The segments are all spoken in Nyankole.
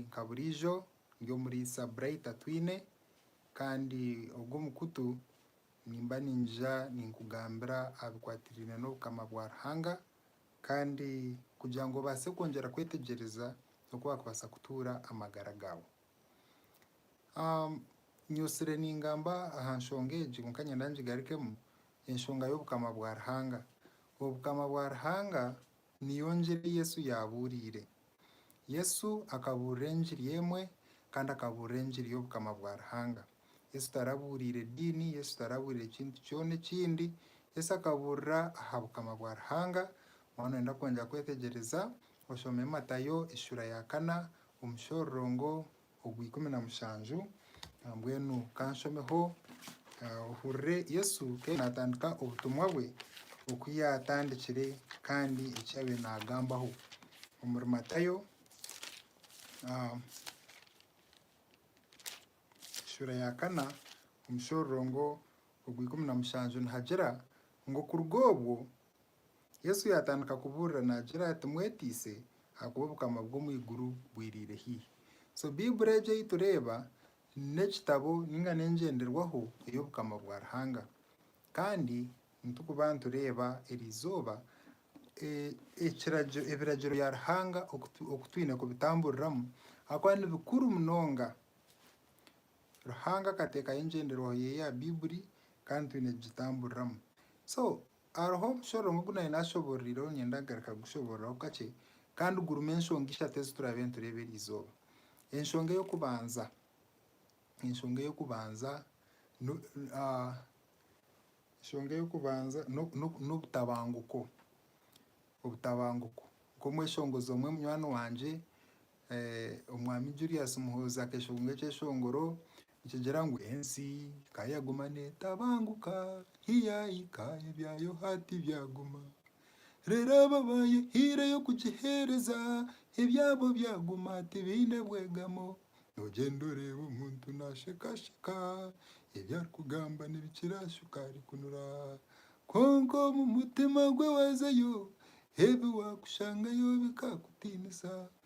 Nka buriijo ndi omuriisa Bright atwine kandi ogu omukutu nimba ningija ninkugambira aha bikwatiraine n'obukama bwa Ruhanga kandi kugira ngu obaase kwongyera kwetegyereza n'oku wakubaasa kutuura amagara gaawe. Nyutsire ningamba aha nshonga egi kwonka niinyenda ngigarukemu, enshonga y'obukama bwa Ruhanga. Obukama bwa Ruhanga Niyo ngiri Yesu yaabuuriire. Yesu akabuurira engiri emwe kandi akabuurira engiri y'Obukama bwa Ruhanga. Yesu tarabuuriire diini, Yesu tarabuuriire kintu kyona ekindi. Yesu akabuurira aha Bukama bwa Ruhanga. Waaba nooyenda kwongyera kwetegyereza, oshome Matayo eshura ya kana omushororongo ogwa ikumi na mushanju. Mbwenu ka nshomeho ohurire Yesu ku yaabaire naatandika obutumwa bwe, oku yaatandikire kandi eki yaabaire naagambaho. Omuri Matayo shuura ya kana omushororongo ogwa ikumi na mushanju nihagira ngu, Kuruga obwo, Yesu yaatandika kubuurira naagira ati, Mweteise, ahakuba Obukama bw'omu iguru bwiriire haihi. So Baiburi egi ei tureeba n'ekitabo nainga n'engyenderwaho ey'Obukama bwa Ruhanga. Kandi nitukuba nitureeba eri izooba ekiragiro ebiragiro bya Ruhanga oku twine kubitamburiramu ahakuba ni bikuru munonga. Ruhanga akateekaho engyenderwaho ye ya Baiburi kandi twine kugitamburiramu. So Hariho omushoro omwe ogu nari naashobororiireho niinyenda kugaruka kugushoboorora kakye kandi gurimu enshonga ishatu ezi turaabe nitureeba eri izooba. Enshonga ey'okubanza, enshonga ey'okubanza enshonga ey'okubanza n'obutabanguko, obutabanguko. Nk'omweshongozi omwe munywani wangye Omwami Julius Muhoozi akeeshonga ekyeshongoro Nikigira ngu ensi ka yaguma neetabanguka, hiyaahika ebya Yohaati byaguma. Reero abo abaayehaireyo kugiheereza, ebyabo byaguma tibaine bwegamo. Noogyenda oreeba omuntu naashekaasheka, ebi arikugamba n'ebikiraashuka arikunura. Kwonka omu mutima gwe waazayo, ebi wakushangayo bikakutiinisa.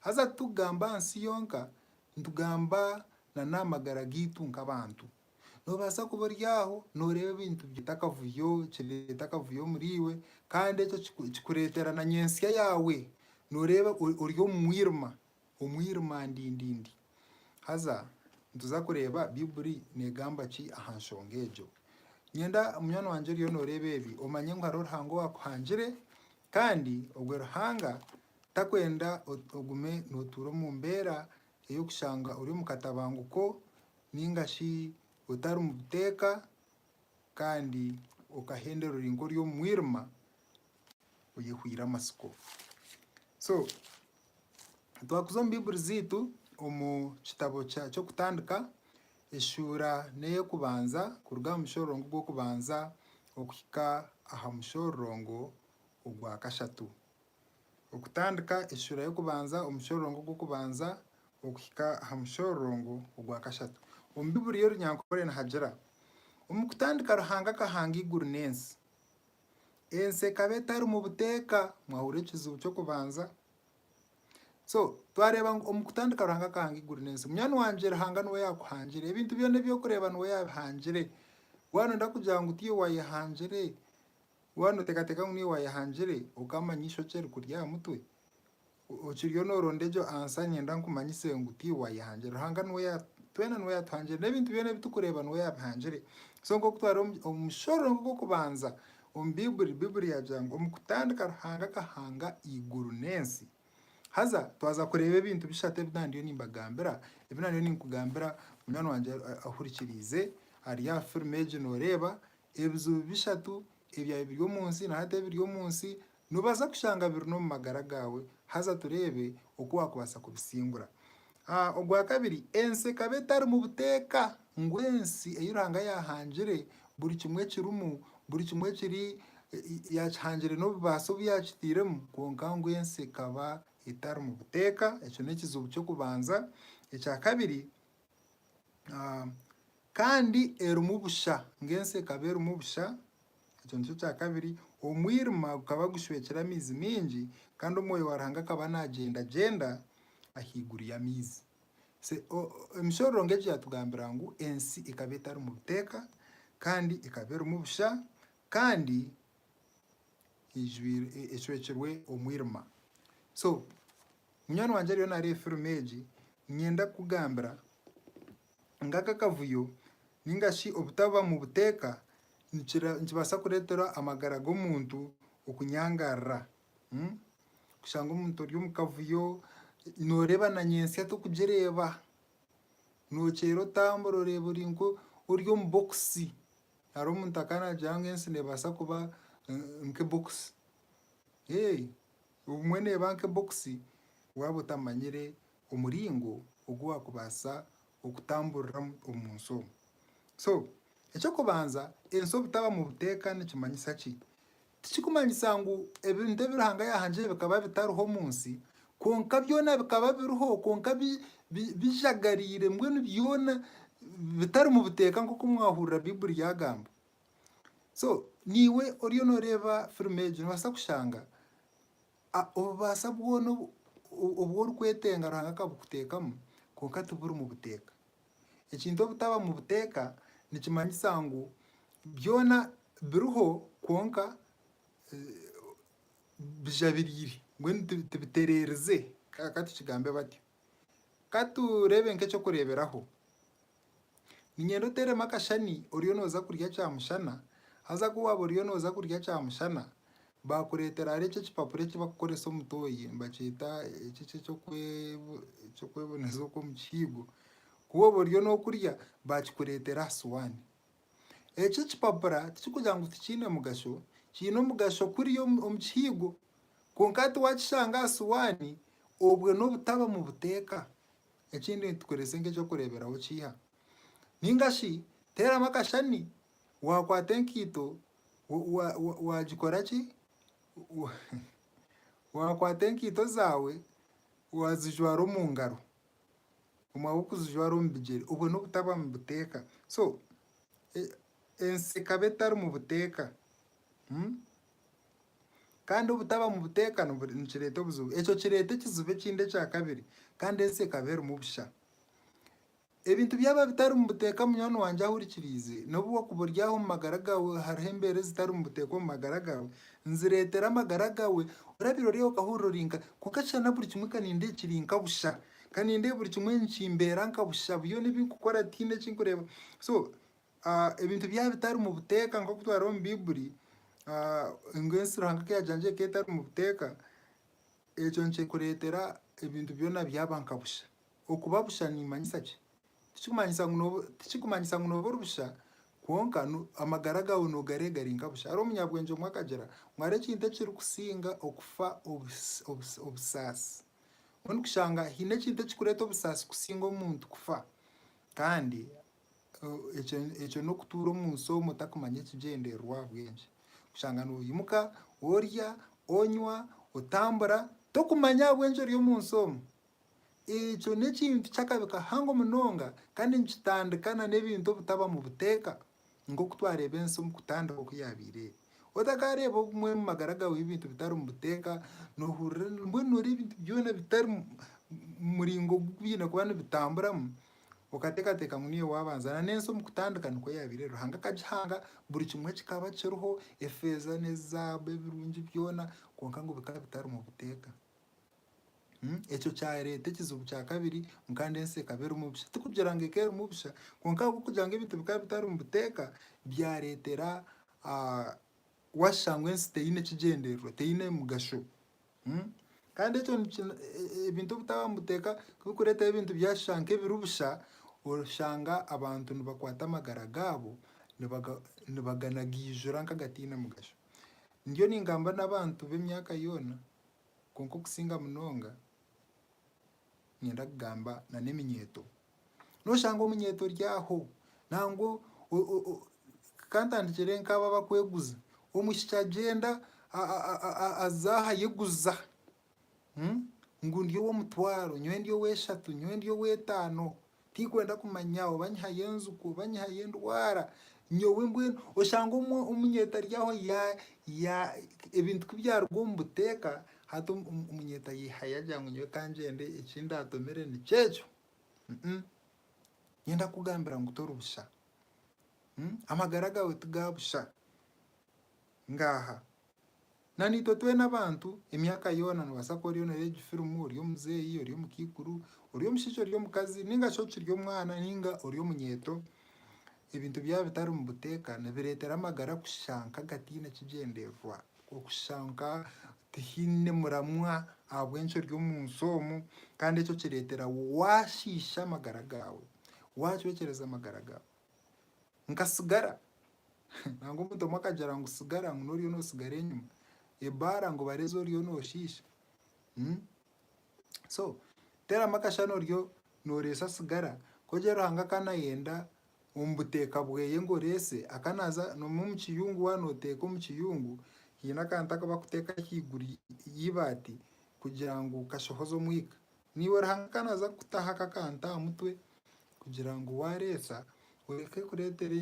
Haza titukugamba aha nsi yonka, nitugamba na n'aha magara gaitu nk'abantu. Noobaasa kuba ori aho nooreeba ebintu bireeta akavuyo, kireeta akavuyo omuriiwe kandi ekyo kikureetera na nyentsya yaawe nooreeba ori omu mwirima, omwirima ndindindi. Haza nituza kureeba Baiburi neegamba ki aha nshonga egyo. Niinyenda munywani wangye oriyo nooreeba ebi omanye ngu hariho Ruhanga owaakuhangire kandi ogwe Ruhanga Takwenda ogume nootuura omu mbeera ey'okushanga ori omu katabanguko nainga shi otari mu buteeka kandi okahenderwa ori nk'ori omu mwirima oyehweire amatsiko. So twakuza omu Baiburi zeitu omu kitabo ky'Okutandika eshuura n'ey'okubanza kuruga aha mushororongo gw'okubanza okuhika aha mushororongo ogwa kashatu. Okutandika eshuura y'okubanza omu mushororongo gw'okubanza okuhika aha mushororongo ogwa kashatu omu Bibuli y'orunyankore nihagira, Omu kutandika Ruhanga akahanga eiguru n'ensi. Ensi ekaba etarimu buteeka. Mwahurira ekizibu ky'okubanza? So twareeba ngu omu kutandika Ruhanga akahanga eiguru n'ensi. Munywani wangye Ruhanga niwe yaakuhangire. Ebintu byona ebi orikureeba niwe yaabihangire. Waaba nooyenda kugira ngu tiiwe waayehangire, Waaba nooteekateeka ngu niiwe waayehangire okaamanya eishokye rikuri aha mutwe, okiriyo nooronda egyo ansa niinyenda nkumanyise ngu tiiwe waayehangire. Ruhanga niwe ya, twena niwe yaatuhangire. N'ebintu byona ebi turikureeba niwe yaabihangire. So nk'oku twari omu omu mushoro gw'okubanza omu Baiburi, Baiburi yaagira ngu omu kutandika Ruhanga akahanga eiguru n'ensi. Haza twaza kureeba ebintu bishatu ebi naaba ndiyo nimbagambira, ebi naaba ndiyo ninkugambira munywani wangye ahurikiriize ari aha firimu egi nooreeba, Ebizibu bishatu ebyabaire biri omu nsi na hati ebiri omu nsi noobaasa kushanga biri n'omu magara gaawe haza tureebe oku waakubaasa kubisingura. Ogwa kabiri, ensi ekaba etarimu buteeka ngu ensi ei Ruhanga yaahangire buri kimwe ekirimu, buri kimwe ekiri yaakihangire n'obubaasa obu yaakitairemu kwonka ngu ensi ekaba etarimu buteeka. Ekyo n'ekizibu ky'okubanza. Ekyakabiri, Kandi erimu busha, ngu ensi ekaba erimu busha. Ekyo nikyo kya kabiri. Omwirima gukaba gushwekire amaizi maingi, kandi Omwoyo wa Ruhanga akaba nagyendagyenda ahaiguru y'amaizi. Emishororongo egi yatugambira ngu ensi ekaba etarimu buteeka, kandi ekaba erimu busha, kandi ecwekirwe omwirima so munywani wangye ariyo nareeba firimu egi niinyenda kukugambira ngu aka akavuyo nainga shi obutaba mu buteeka nikibaasa kureetera amagara g'omuntu okunyangarara kushanga omuntu ori omu kavuyo nooreeba na nyentsya oti okugireeba, nookyeera otambura oreeba ori nk'ori omu bokisi Hariho omuntu akanagira ngu ensi nebaasa kuba nk'ebokisi. Ee, obumwe neba nk'ebokisi waba otamanyire omuringo ogu wakubaasa okutamburiramu omu nsi omu. So, eky'okubanza ensi obutaba mu buteeka nikimanyisa ki? Tikirikumanyisa ngu ebintu ebi Ruhanga yaahangire bikaba bitariho omu nsi, kwonka byona bikaba biriho kwonka bijagariire mbwenu byona bitarimu buteeka nk'oku mwahurira Baiburi yaagamba. So niiwe oriyo nooreeba firimu egi noobaasa kushanga obubaasa bwona obu orikwetenga Ruhanga akabukuteekamu kwonka tiburimu buteeka. Ekintu obutaba mu buteeka nikimanyisa ngu byona biriho kwonka bijabiriire, mbwenu tibitereerize, ka tukigambe batyo. Ka tureebe nk'eky'okureeberaho, niinyenda oteeremu akashani oriyo nooza kurya kyaamushana, haza ku waaba oriyo nooza kurya kyaamushana, Baakureetera ahari ekyo ekipapura eki barikukoresa omu tooyi, nibakyeta ekyo ekyo eky'okweboneza okw'omu kihiigo, ku waba oriyo n'okurya baakikureetera aha sowaani. Ekyo ekipapura tikirikugira ngu tikiine mugasho, kiine omugasho kuri omu kihiigo kwonka hati waakishanga aha sowaani obwe n'obutaba mu buteeka. Ekindi nitukoresa nk'eky'okureeberaho kiiha. Nainga shi teeramu akashani Waakwata enkaito waagikora ki? Waakwata enkaito zaawe waazijwara omu ngaro, obumwe ahabw'okuzijwara omu bigyere, obwo n'obutaba mu buteeka. So ensi ekaba etarimu buteeka. Kandi obutaba mu buteeka nikireeta obuzibu. Ekyo kireeta ekizibu ekindi ekyakabiri, kandi ensi ekaba erimu busha. Ebintu byaba bitarimu buteeka munywani wangye ahurikiriize, n'obu okuba ori aho omu magara gaawe hariho embeera ezitarimu buteeka omu magara gaawe, nzireetera amagara gaawe, orabiire ori aho okahurira ori nka, kwonka shana na buri kimwe kanindeeba kiri nka busha, kanindeeba buri kimwe nikimbeera nka busha, byona ebi nkukora tihaine eki nkureeba. So ebintu byaba bitarimu buteeka nk'oku twareba omu Baiburi, ngu ensi Ruhanga ku yaagihangiire ekaba etarimu buteeka, ekyo nikikureetera ebintu byona byaba nka busha. Okuba busha nimanyisa ki? Tikikumanyisa ngu nooba ori busha, kwonka amagara gaawe noogareeba gari nka busha. Hariho omunyabwengye omwe akagira ngu hariho ekintu ekirikusinga okufa obusaasi. Mbwenu kushanga haine ekintu ekirikureeta obusaasi kusinga omuntu kufa. Kandi ekyo n'okutuura omu nsi omu otakumanya ekigyendererwa ahabwa enki. Kushanga noimuka, orya, onywa, otambura, tokumanya ahabw'enki ori omu nsi omu. Ekyo n'ekintu ky'akabi kahango munonga kandi nikitandika n'ebintu obutabamu buteeka, nk'oku twareeba ensi omu kutandika oku yaabaire eri. Otakaareeba obumwe omu magara gaawe ebintu bitarimu buteeka, noohurira mbwenu nooreeba ebintu byona bitari muringo ogu biine kuba nibitamburamu, okateekateeka ngu niiwe waabanza. Na n'ensi omu kutandika nikwo yaabaire eri, Ruhanga akagihanga buri kimwe kikaba kiriho, efeeza n'ezaabu ebirungi byona, kwonka ngu bikaba bitarimu buteeka. Ekyo kyareeta ekizibu kya kabiri, kandi ensi ekaba erimu busha. Tikugira ngu ekaba erimu busha, kwonka ahabw'okugira ngu ebintu bikaba bitari omu buteeka, byareetera waashusha ngu ensi teine kigyendererwa, teine mugasho. Kandi ekyo ebintu obutaba omu buteeka tibirikureetaho ebintu byashusha nk'ebiri busha, oshanga abantu nibakwata amagara gaabo nibaganagiijura nk'agataine mugasho. Ndiyo ningamba n'abantu b'emyaka yoona Kwonka okusinga munonga niinyenda kugamba n'eminyeeto. Noshanga omunyeeto ori aho nangwa kantandikire nk'abo abakweguza, omwishiki agyenda aza aha ayeguza ngu ndi ow'omutwaro, nyowe ndi ow'eshatu, nyowe ndi ow'etaano. Tikwenda kumanya oba nyihayo enjuki oba nyihayo endwara, nyowe mbwenu oshange omwe omunyeta ari aho ya ya ebintu ku byaruga omu buteeka hati omunyeta ayehayo agira ngu nyowe kangyende eki ndaatomere nikyekyo. Nyowe ndakugambira ngu tori busha. Amagara gaawe ti ga busha. Ngaaha. Na naitwe twena abantu, emyaka yoona, noobaasa kuba oriyo nooreeba egi firimu, ori omuzeeyi, ori omukaikuru, ori omushaija, ori omukazi, nainga shi okiri omwana nainga ori omunyeeto, ebintu byaba bitarimu buteeka nibireetera amagara kushusha nk'agataine kigyendererwa, okushusha nka tihaine muramwa ahabw'enki ori omu nsi omu, kandi ekyo kireetera waashiisha amagara gaawe, waacwekyereza amagara gaawe. nka sigara nangwa omuntu omwe akagira ngu sigara ngu n'oriyo noosigara enyima, ebaara ngu bara ezi oriyo nooshiisha. So teeramu akashushani oriyo nooreesa sigara ku ogira Ruhanga akaba naayenda omu buteeka bweye ngu oreese aka naaza nomu omu kiyungu waaba nooteeka omu kiyungu haine akantu aku bakuteeka ahaiguru y'ibaati kugira ngu kashohoze omwika. Niiwe Ruhanga ka naaza kukutaho ako akantu aha mutwe, kugira ngu waareetsa oreke kureetera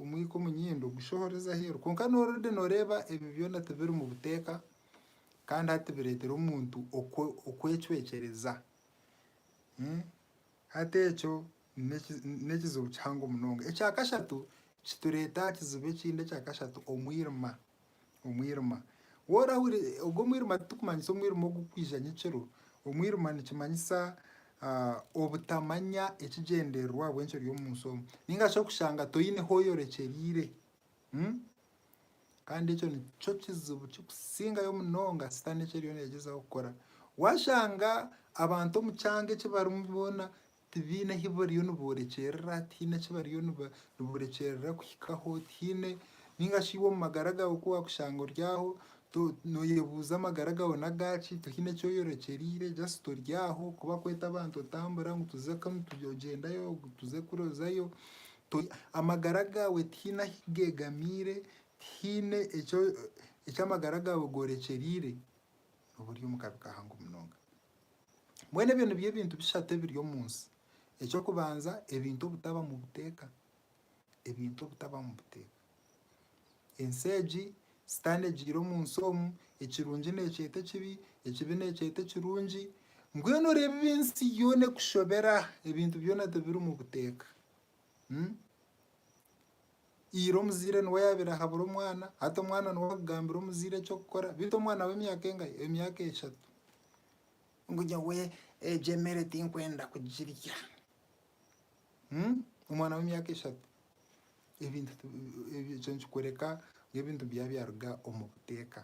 omwika omu nyindo gushohoreze aheeru. Kwonka noora ori nooreeba ebyo byona tibiri mu buteeka kandi hati bireetera omuntu okwecwekyereza. Hati ekyo n'ekizibu kihango munonga. Ekya kashatu, kitureeta aha kizibu ekindi ekya kashatu, omwirima. omwirima. Worahuri ogu omwirima titukumanyisa omwirima ogukwija nyekiro, omwirima nikimanyisa obutamanya ekigyendererwa ahabw'enki ori omu nsi omu. Ninga shi okushanga toine ahu oyorekyereire. Kandi ekyo nikyo kizibu kikusingayo munonga sitaane eki eriyo negyezaho kukora. Washanga abantu omu kyanga eki barimu boona Tibaine ahi bariyo niboorekyerera, tihaine eki bariyo niboorekyerera kuhikaho, tihaine nainga shi iwe omu magara gaawe ku waakushanga ori aho nooyebuuza amagara gaawe n'agaaki tihaine eki oyorekyereire just ori aho ku bakweta abantu otambura ngu tuze kunu ogyendayo ngu tuze kuri ozayo. Amagara gaawe tihaine ahi geegamiire, tihaine eki amagara gaawe goorekyereire, nooba ori omu kabi kahango munonga. Mbwenu ebyo nibyo ebintu bishatu ebiri omu nsi. Eky'okubanza ebintu obutabamu buteeka, ebintu obutabamu buteeka. Ensi egi Sitaane egiire omu nsi omu, ekirungi neekyeta ekibi, ekibi neekyeta ekirungi, mbwenu oreeba ensi yoona ekushobera, ebintu byona tibirimu buteeka. Ira omuzaire niwe yaabaire ahabura omwana, hati omwana niwe arikugambira omuzaire eky'okukora beitu omwana w'emyaka engahi? Emyaka eshatu. Ngu nyowe egyo emere tinkwenda kugirya. Omwana w'emyaka eshatu. Ebintu ekyo nikikworeka ngu ebintu byabaire byaruga omu buteeka.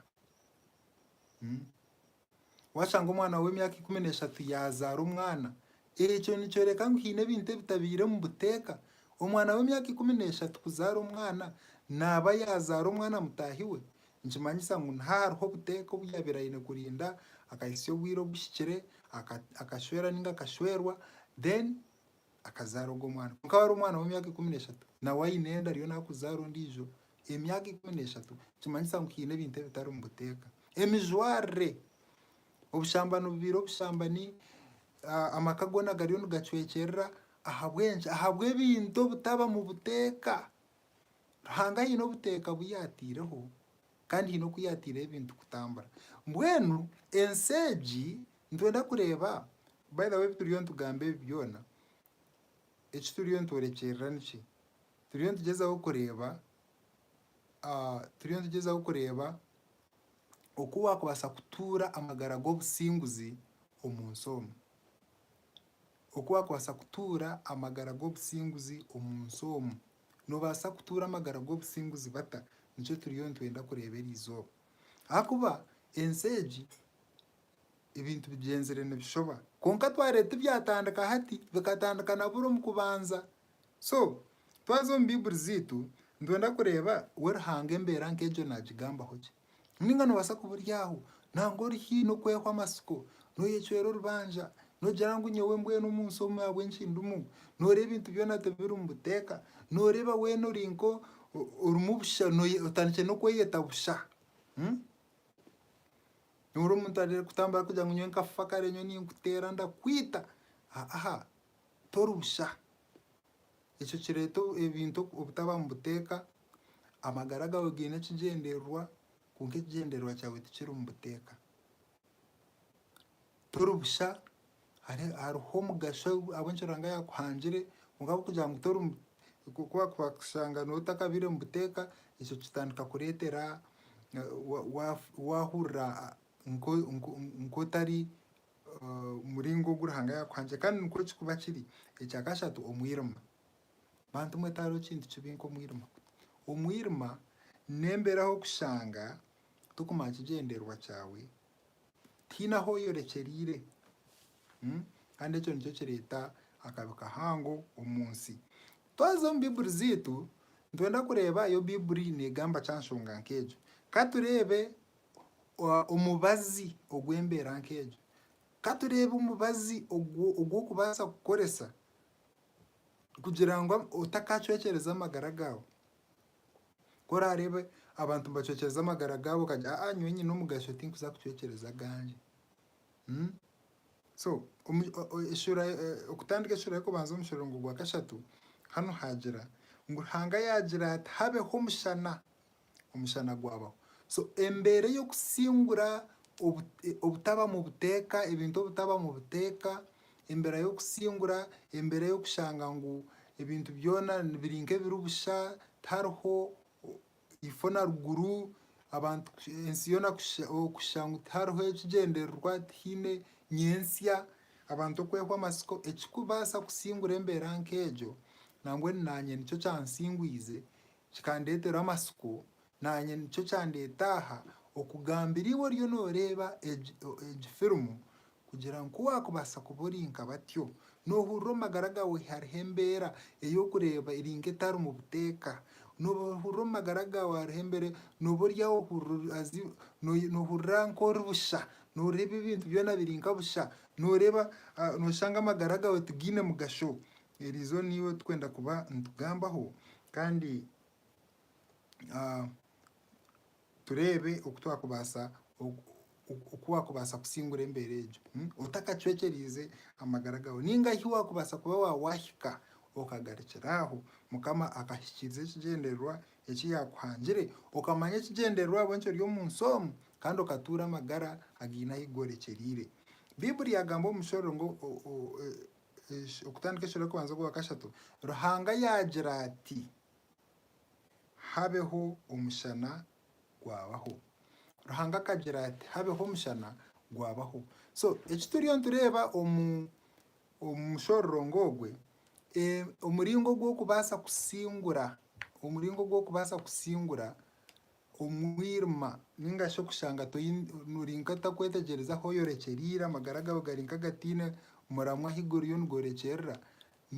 Waashanga omwana w'emyaka ikumi n'eshatu yaazaara omwana, ekyo nikyoreka ngu haine ebintu ebitabaire omu buteeka. Omwana w'emyaka ikumi n'eshatu kuzaara omwana, naaba yaazaara omwana mutaahi we, nikimanyisa ngu niho ahariho obuteeka obu yaabaire aine kurinda, akahitsya obwire obuhikire, akashwera nainga akashwerwa, then akazaara ogwo mwana kwonka wari omwana w'emyaka ikumi n'eshatu nawe aine enda ariyo nakuzaara ondiijo emyaka ikumi n'eshatu nikimanyisa ngu haine ebintu ebitari omu buteeka emijwarire obushamba nibubaire obushambani ah, amaka goona gariyo nigacwekyerera ahabw'enki ahabw'ebintu obutaba mu buteeka ruhanga haine obuteeka obu yaataireho kandi haine oku yaataireho ebintu kutambura. Mbwenu ensi egi nitwenda kureeba, by the way ebi turiyo nitugamba ebi byona, eki turiyo nitworekyerera niki? Turiyo nitugyezaho kureeba turiyo nitugyezaho kureeba oku waakubaasa kutuura amagara g'obusinguzi omu nsi omu. Oku waakubaasa kutuura amagara g'obusinguzi omu nsi omu. Noobaasa kutuura amagara g'obusinguzi bata? Nikyo turiyo nitwenda kureeba eri izooba. Ahakuba ensi egi ebintu bigyenzire nibishoba. Kwonka twareeba tibyatandika hati, bikatandika na buri omu kubanza. So, twaza omu Baiburi zaitu nitwenda kureeba we Ruhanga embeera nk'egyo naagigambaho gye. Nainga noobaasa kuburyaaho nangwa ori haihi n'okwehwa amatsiko, nooyecwera orubanja, noogira ngu nyowe mbwenu omu nsi omu ahabw'enki ndimu? Nooreeba ebintu byona tibiri omu buteeka, nooreeba weena ori nko orimu busha otandikire n'okweyeta busha. Nooreeba omuntu arenda kutambura arikugira ngu nyowe nkafa kare nyowe ninkuteera ndakwita, haa tori busha. Ekyo kireeta ebintu obutaba omu buteeka, amagara gaawe gaine ekigyendererwa kwonka ekigyendererwa kyawe tikiri omu buteeka. Tori busha, hariho omugasho ahabw'enki Ruhanga yaakuhangire kwonka ahabw'okugira ngu tori omu, ku bakushanga nooba otakabaire omu buteeka, ekyo kitandika kureetera waahurira nk'otari omuringo ogu Ruhanga yaakuhangire kandi nikwo kirikuba kiri. Ekya kashatu, omwirima. Bantu mwe tihariho kintu kibi nk'omwirima. Omwirima n'embeera ahu orikushanga torikumanya kigyendererwa kyawe, tihaine ahu oyorekyereire kandi ekyo nikyo kireeta akabi kahango omu nsi. Twaza omu Baiburi zaitu nitwenda kureeba oku Baiburi neegamba ki aha nshonga nk'egyo. Ka tureebe omubazi ogw'embeera nk'egyo. Ka tureebe omubazi ogu orikubaasa kukoresa kugira ngu otakaacwekyereza amagara gaawe. Ku oraareebe abantu nibacwekyereza amagara gaabo okagira ngu, aa nyowe nyine omugasho tinkuza kucwekyereza agangye. So okutandika eshuura y'okubanza omu muringo gwa kashatu, hanu haagira ngu Ruhanga yaagira ati habeho omushana. omushana gwabaho. So embeera ey'okusingura obutabamu buteeka, ebintu obutabamu buteeka, embeera y'okusingura, embeera y'okushanga ngu ebintu byona biri nk'ebiri busha, tihariho ifo na ruguru, abantu ensi yoona kushusha ngu tihariho ekigyendererwa, tihaine nyentsya, abantu okwehwa amatsiko, ekirikubaasa kusingura embeera nk'egyo, nangwa naanye nikyo kyansingwize. Kikandeetera amatsiko, naanye nikyo kyandeeta aha, okugambira iwe oriyo nooreeba egi egi firimu kugira ngu ku waakubaasa kuba ori nka batyo. Noohurira omu magara gaawe hariho embeera ey'okureeba eri nk'etarimu buteeka. Noohurira omu magara gaawe hariho embeera nooba ori aho ohurira as if noohurira nk'ori busha, nooreeba ebintu byona biri nka busha. Nooreeba nooshanga amagara gaawe tigaine mugasho. Eri izooba niiwe turikwenda kuba nitugambaho kandi tureebe oku twakubaasa oku waakubaasa kusingura embeera egyo otakacwekyereize amagara gaawe. Nainga hi waakubaasa kuba waahika okagarukira aho Mukama akahikiiriza ekigyendererwa eki yaakuhangire, okamanya ekigyendererwa ahabw'enki ori omu nsi omu kandi okatuura amagara againe ahu gorekyereire. Baiburi yaagamba omu mushororo ngu okutandika ekiro ry'okubanza ogwa kashatu, Ruhanga yaagira ati, Habeho omushana, gwabaho. Ruhanga akagira ati, Habeho omushana, gwabaho. So eki turiyo nitureeba omu omu mushororongo ogwe, omuringo ogw'okubaasa kusingura, omuringo ogw'okubaasa kusingura Omwirima, ninga shi okushanga ori nk'otakwetegyereza ahu oyorekyereire, amagara gaawe gari nk'agataine muramwa ahu guriyo nigorekyerera,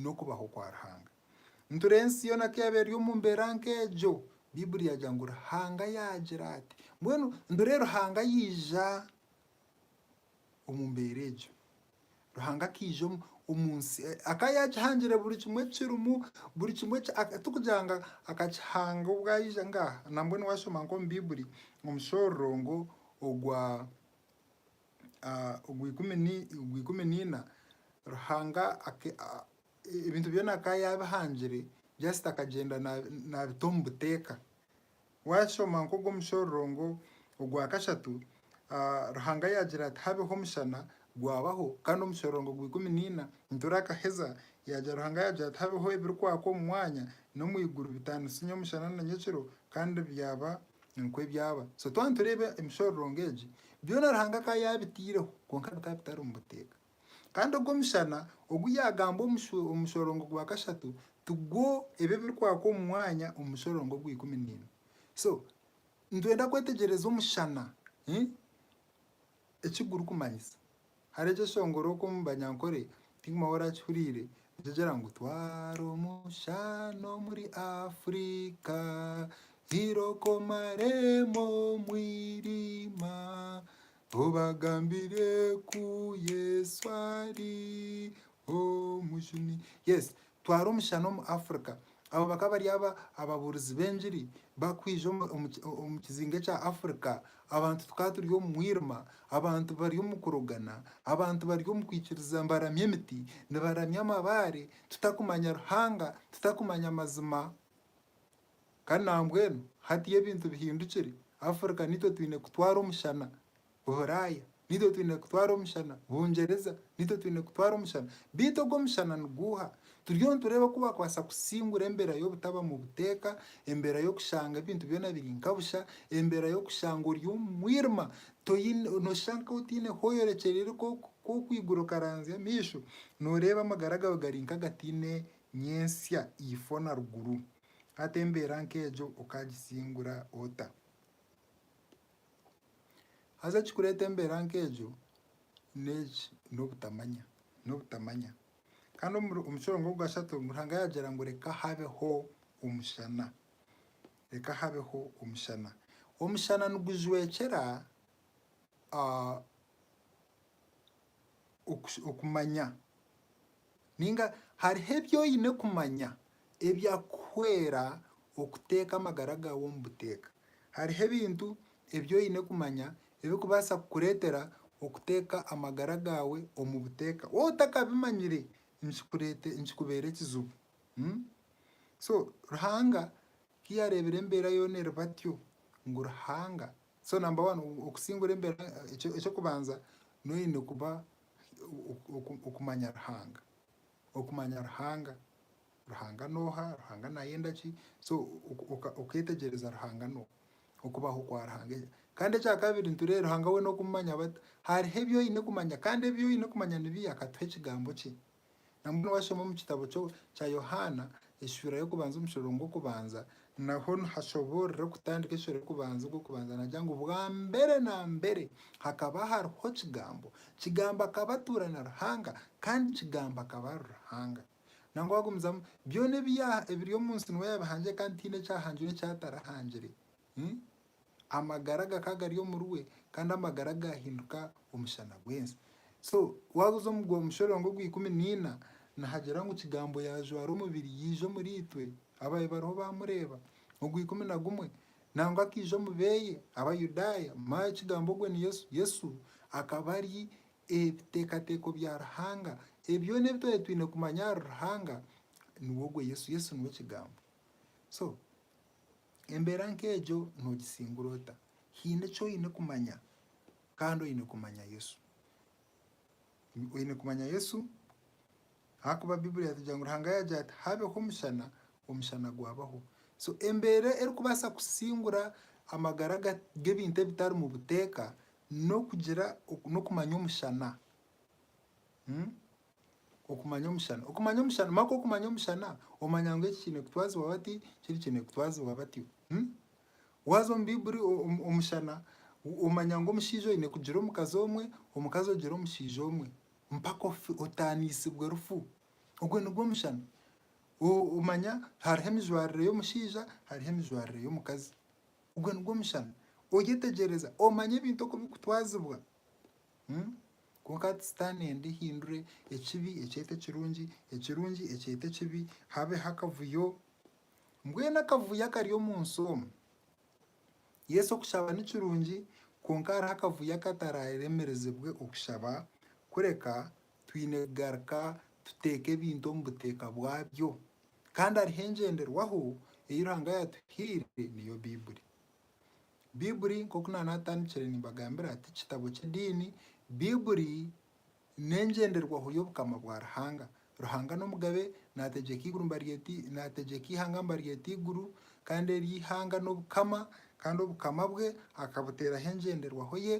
n'okubaho kwa Ruhanga. Nitureeba ensi yoona ku yaaba eri omu mbeera nk'egyo, Baiburi yaagira ngu Ruhanga yaagira ati. Mbwenu nitureeba Ruhanga yaija omu mbeera egyo. Ruhanga akaija omu nsi, akaba yaagihangire buri kimwe ekirimu, buri kimwe tikugira ngu akakihanga obwo aija nga nambwenu waashoma nk'omu Baiburi omu mushororongo ogwa ikumi naina, Ruhanga ebintu byona akaba yaabihangire just akagyenda naabita omu buteeka Waashoma nk'ogu omushororongo ogwa kashatu, Ruhanga yaagira ati habeho omushana, gwabaho, kandi omushororongo gwa ikumi naina niturakaheza, yaagira Ruhanga yaagira ati habeho ebirikwaka omu mwanya n'omu iguru bitaanisinye omushana na nyekiro, kandi byaba nikwo ebyaba. So twaba nitureeba emishororongo egi, byona Ruhanga akaba yaabitaireho, kwonka bikaba bitari omu buteeka. Kandi ogwo mushana ogu yaagamba omu mushorongo gwa kashatu tigwo ebi ebirikwaka omu mwanya omu mushorongo ogwa ikumi naimwe. So nitwenda kwetegyereza omushana eki gurikumanyisa. Hare gye shongora okwo omu banyankore tihaine ou orakihuriire nikigira ngu, Twara omushana omuri Afrika, Iroka omaremu omwirima, Obagambire ku Yesu ari omujuni. Yes, twara omushana omu Africa. Abo bakaba bari aba ababuurizi b'engiri bakwija omu- omu ki- omu kizinga ekya Africa. Abantu tukaba turi omu mwirima, abantu bari omu kurogana, abantu bari omu kwikiriza nibaramya emiti, nibaramya amabaare, tutakumanya Ruhanga, tutakumanya amazima. Kandi nambwenu hati ebintu bihindukire, Africa nitwe twine kutwara omushana, Buraya nitwe twine kutwara omushana, Bungyereza nitwe twine kutwara omushana. Beitu ogu omushana niguuha? Turiyo nitureeba oku bakubaasa kusingura embera y'obutaba mu buteeka, embera y'okushanga ebintu byona biri nka busha, embera y'okushanga ori omu mwirima, noshusha nka otaine ahu oyorekyereire ku okwigura okaranzya amaisho noreeba amagara gaawe gari nka agataine nyentsya ifo na ruguru. Hati embeera nk'egyo okagisingura ota? Haza ekirikureeta embeera nk'egyo n'eki, n'obutamanya, n'obutamanya. Kandi omuri, omu kiro nk'okukashatu Ruhanga yaagira ngu reka habeho omushana, reka habeho omushana. Omushana nigujwekyera, ah, okumanya, nainga hariho ebi oine kumanya ebyakuhwera okuteeka amagara gaawe omu buteeka. Hariho ebintu ebi oine kumanya ebirikubaasa kukureetera okuteeka amagara gaawe omu buteeka. Waaba otakabimanyire nikikubeera ekizibu. So Ruhanga ku yaareebire embeera yoona eri batyo, ngu Ruhanga So number one okusingura embera ekyokubanza noyine kuba okumanya Ruhanga, okumanya Ruhanga, Ruhanga noha, Ruhanga nayenda ki, so oketegyereza Ruhanga noha, okubaho kwa Ruhanga. Kandi ekyakabiri nitureba Ruhanga we nokumumanya bata, hariho ebyoyine kumanya kandi ebyoyine kumanya nibi akatuha ekigambo kye, Nambwenu washoma omu kitabo kya Yohaana eshuura y'okubanza omu kishororongo gw'okubanza, naho nihashoboorora okutandika eshuura y'okubanza ogw'okubanza nagira ngu bwambere na mbere hakaba hariho Kigambo, Kigambo akaba atuura na Ruhanga kandi Kigambo akaba ari Ruhanga. Nangwa wagumizamu, byona ebiri omu nsi niwe yabihangire kandi tihaine ekyahangirwe eki atarahangire. Amagara gakaba gari omuri we, kandi amagara gaahinduka omushana gw'ensi. So waaza oza omu Mushororongo ogw'ikumi naina, nihagira ngu Kigambo yaajwara omubiri yaija omuriitwe, ababaire bariho baamureeba. Ogw'ikumi na gumwe, nangwa akaija omu beeye, Abayudaaya, manya Kigambo ogwo ni Yesu. Yesu akaba ari ebiteekateeko bya Ruhanga. Ebi byona ebi twabaire twine kumanya ahari Ruhanga, niwe ogwo Yesu. Yesu niwe Kigambo. So. Embeera nk'egyo noogisingura ota? Haine eki oine kumanya, kandi oine kumanya Yesu. Oine kumanya Yesu ahakuba Baiburi yatugira ngu Ruhanga yaagira ati, Habeho omushana, omushana gwabaho. So embeera erikubaasa kusingura amagara g'ebintu ebitarimu buteeka n'okugira n'okumanya omushana. Okumanya omushana. Okumanya omushana. Maka okumanya omushana, omanya ngu eki kiine kutwazibwa bati, kiri kiine kutwazibwa batyo. Waaza omu Baiburi omushana, omanya ngu omushaija oine kugira omukazi omwe, omukazi ogire omushaija omwe mpaka ofe, otaaniisibwe rufu. Ogwo nigwo mushana. Omanya hariho emijwarire y'omushaija, hariho emijwarire y'omukazi. Ogwo nigwo mushana. Oyetegyereza, omanya ebintu oku birikutwazibwa. Kwonka hati Sitaane enda ehindure ekibi ekyete ekirungi, ekirungi ekyete ekibi, habeho akavuyo. Mbwenu akavuyo akari omu nsi omu, yes okushaba ni kirungi kwonka hariho akavuyo akatararemerezibwe okushaba kureka twine kugaruka tuteeka ebintu omu buteeka bwabyo. Kandi hariho engyenderwaho ei Ruhanga yaatuhaire niyo Baiburi. Baibuli, nk'oku naaba naatandikire nimbagambira, ti kitabo ky'ediini. Baibuli n'engyenderwaho y'Obukama bwa Ruhanga. Ruhanga n'Omugabe, naategyeka eiguru ngu baryete, naategyeka eihanga ngu baryete eiguru, kandi eryo eihanga n'Obukama, kandi Obukama bwe akabuteeraho engyenderwaho ye.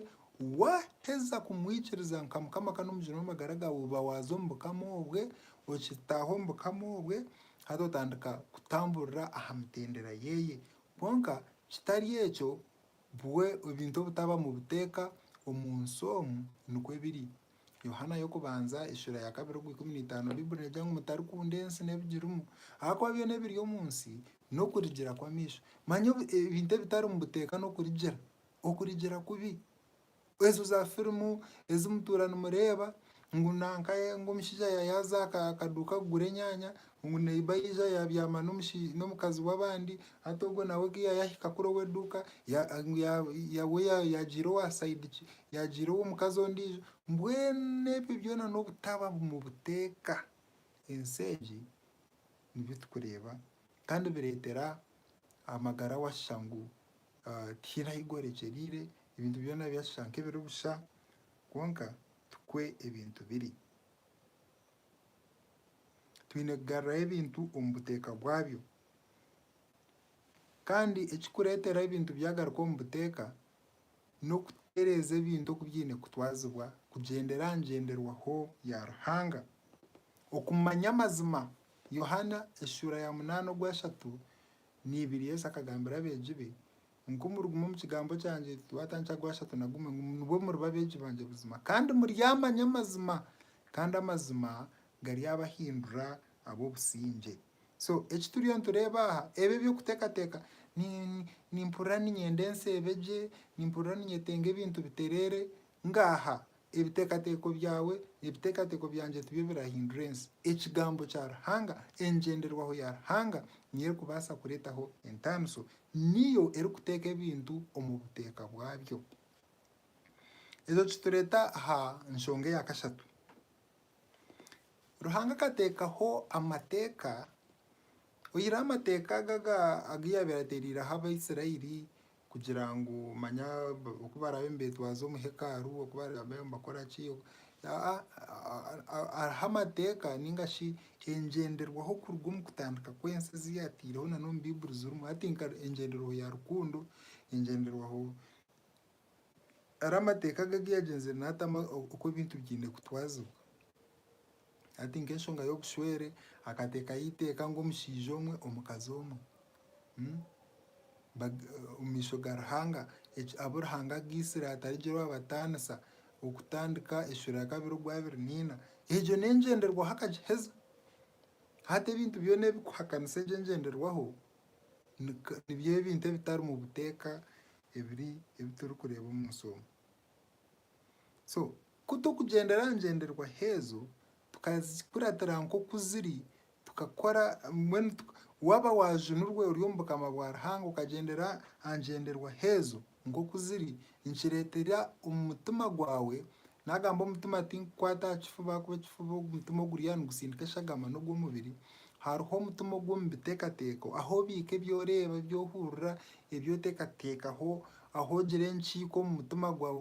Waaheza kumwikiriza nka Mukama kandi Omugyeni w'amagara gaawe, oba waaza omu Bukama obwe, okitaaha omu Bukama obwe, haza otandika kutamburira aha mitendera ye. Kwonka kitari ekyo, bwe ebintu obutaba mu buteeka omu nsi omu, nikwo ebiri. Yohaana y'okubanza, eshura ya kabiri ogwa ikumi na itaano, Baiburi neegira ngu mutarikunda ensi n'ebigirimu, ahakuba byona ebiri omu nsi, n'okurigira kw'amaisho, manya ebintu ebitari mu buteeka n'okurigira, okurigira kubi, Ezo za firimu ezi mutuura nimureeba ngu nanka ngu omushaija yaaza aha kaduuka kugura enyaanya, ngu neiba yaija yaabyama n'omukazi w'abandi, hati ogwo nawe ku yaayahika kuri ow'eduuka ngu yaagiire owa sayidi ki, yaagiire ow'omukazi ondiijo. Mbwenu ebyo byona n'obutaba bumwe buteeka. Ensi egi nibyo turikureeba kandi bireetera amagara washa ngu Tihaine ahi gworekyereire, ebintu byona byashusha nk'ebiri busha. Kwonka tikwo ebintu biri. Twine kugarurayo ebintu omu buteeka bwabyo. Kandi ekirikureetera ebintu byagaruka omu buteeka, n'okutereeza ebintu oku byaine kutwazibwa kugyendera aha ngyenderwaho ya Ruhanga. Okumanya amazima, Yohaana eshuura ya munaana ogwashatu Ni ibiri Yesu akagambira abeegi be ngu, Ku muriguma omu kigambo kyangye, titwata nkya gwashatu na gumwe, ngu nibwo muriba abeegi bangye buzima, kandi muryamanya amazima, kandi amazima garyabahindura ab'obusingye. So eki turiyo nitureeba aha, ebi eby'okuteekateeka, ni nimpurira niinyenda ensi ebe gye, nimpurira niinyetenga ebintu bitereere, ngaaha Ebiteekateeko byawe n'ebiteekateeko byangye tibyo birahindura ensi. Ekigambo kya Ruhanga, engyenderwaho ya Ruhanga niyo erikubaasa kureetaho entaaniso. Niyo erikuteeka ebintu omu buteeka bwabyo. Ekyo kitureeta aha nshonga eya kashatu. Ruhanga akateekaho amateeka, oyihireho amateeka aga aga yaabaire ateereireho Abaisraeli, kugira ngu manya oku baraabe nibetwaza omu hekalu, oku baraabe nibakora ki, hariho amateeka ninga shi engyenderwaho kuruga omu kutandika kw'ensi ezi yaateireho na n'omu Baiburi zirimu. Hati nka engyenderwaho ya rukundo, engyenderwaho hariho amateeka agu yaagyenziire naatamu oku ebintu byaine kutwazibwa. Hati nk'enshonga y'obushwere, akateekaho eiteeka ngu omushaija omwe, omukazi omwe, omu maisho ga Ruhanga, abu Ruhanga agaitsire hatarigireho abataanisa, okutandika Eshura ya kabiri ogwabire naina. Egyo n'engyenderwaho akagiheza. Hati ebintu byona ebirikuhakanisa egyo engyenderwaho, nibyo ebintu ebitarimu buteeka ebi turikureeba omu nsi omu. So ku turikugyendera aha ngyenderwaho ezo, tukazikuratira nk'oku ziri, tukakora mbwenu waaba waajunirwe ori omu bukama bwa Ruhanga okagyendera aha ngyenderwaho ezo nk'oku ziri, nikireetera omu mutima gwawe, naagamba omutima tinkukwata aha kifuba ahakuba ekifuba ogwo mutima oguriyo nigutsindika eshagama n'ogw'omubiri, hariho omutima ogw'omu biteekateeko ahu obiika ebi oreeba, ebi ohurira, ebi oteekateekaho Ahu ogire enkiiko omu mutima gwawe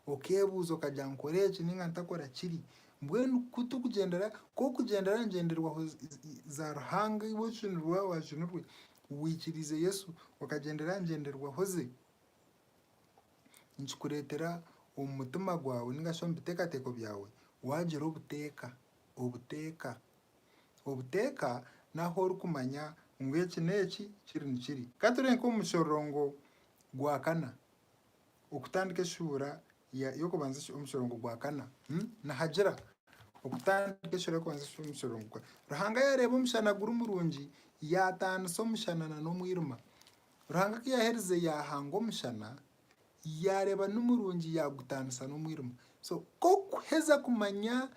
okeebuuza okagira ngu nkore eki nainga ntakora kiri. Mbwenu ku turikugyendera, ku orikugyendera aha ngyenderwaho za Ruhanga iwe ojunirwe waaba waajunirwe, waikiriize Yesu, okagyendera aha ngyenderwaho ze, nikikureetera omu mutima gwawe nainga shi omu biteekateeko byawe waagira obuteeka. Obuteeka. Obuteeka n'ahu orikumanya ngu eki n'eki, kiri nikiri. Ka turebe nk'omu mushororongo gwa kana, okutandika eshuura y'okubanza omu mushororongo gwa kana, nihagira okutandika eshuura y'okubanza omu mushororongo gwa kana. Ruhanga yaareeba omushana guri murungi, yaataanisa omushana n'omwirima. Ruhanga ku yaaherize yaahanga omushana yaareeba nimurungi yaagutaanisa n'omwirima. So ku orikuheza kumanya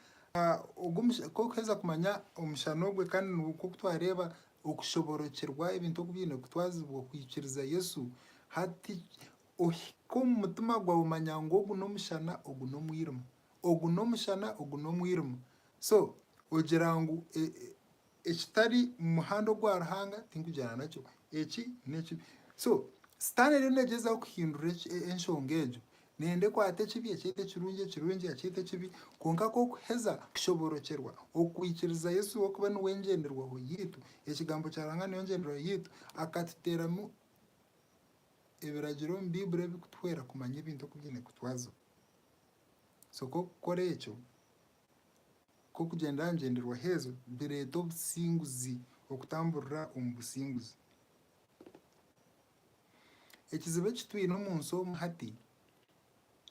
ogu omushana, ku orikuheza kumanya omushana ogwe kandi nikwo ku twareeba okushoboorokyerwa ebintu oku biine kutwazibwa kwikiriza Yesu. Hati ohike omu mutima gwawe omanya ngu ogu n'omushana ogu n'omwirima, ogu n'omushana ogu n'omwirima. So ogira ngu Ekitari mu muhanda ogwa Ruhanga tinkugyana nakyo. Eki n'ekibi. So, Sitaane eriyo neegyezaho kuhindura enshonga egyo, neeyenda ekwate ekibi ekyete ekirungi, ekirungi akyete ekibi, kwonka ku orikuheza kushoborokyerwa okwikiriza Yesu w'okuba niwe engyenderwaho yaitu, Ekigambo kya Ruhanga niyo ngyenderwaho yaitu, akatuteeramu ebiragiro omu Baiburi ebirikutuhwera kumanya ebintu oku biine kutwazibwa. So, ku orikukora ekyo, Ku okugyenda aha ngyenderwaho ezo bireeta obusinguzi okutamburira omu businguzi. Ekizibu eki twine omu nsi omu hati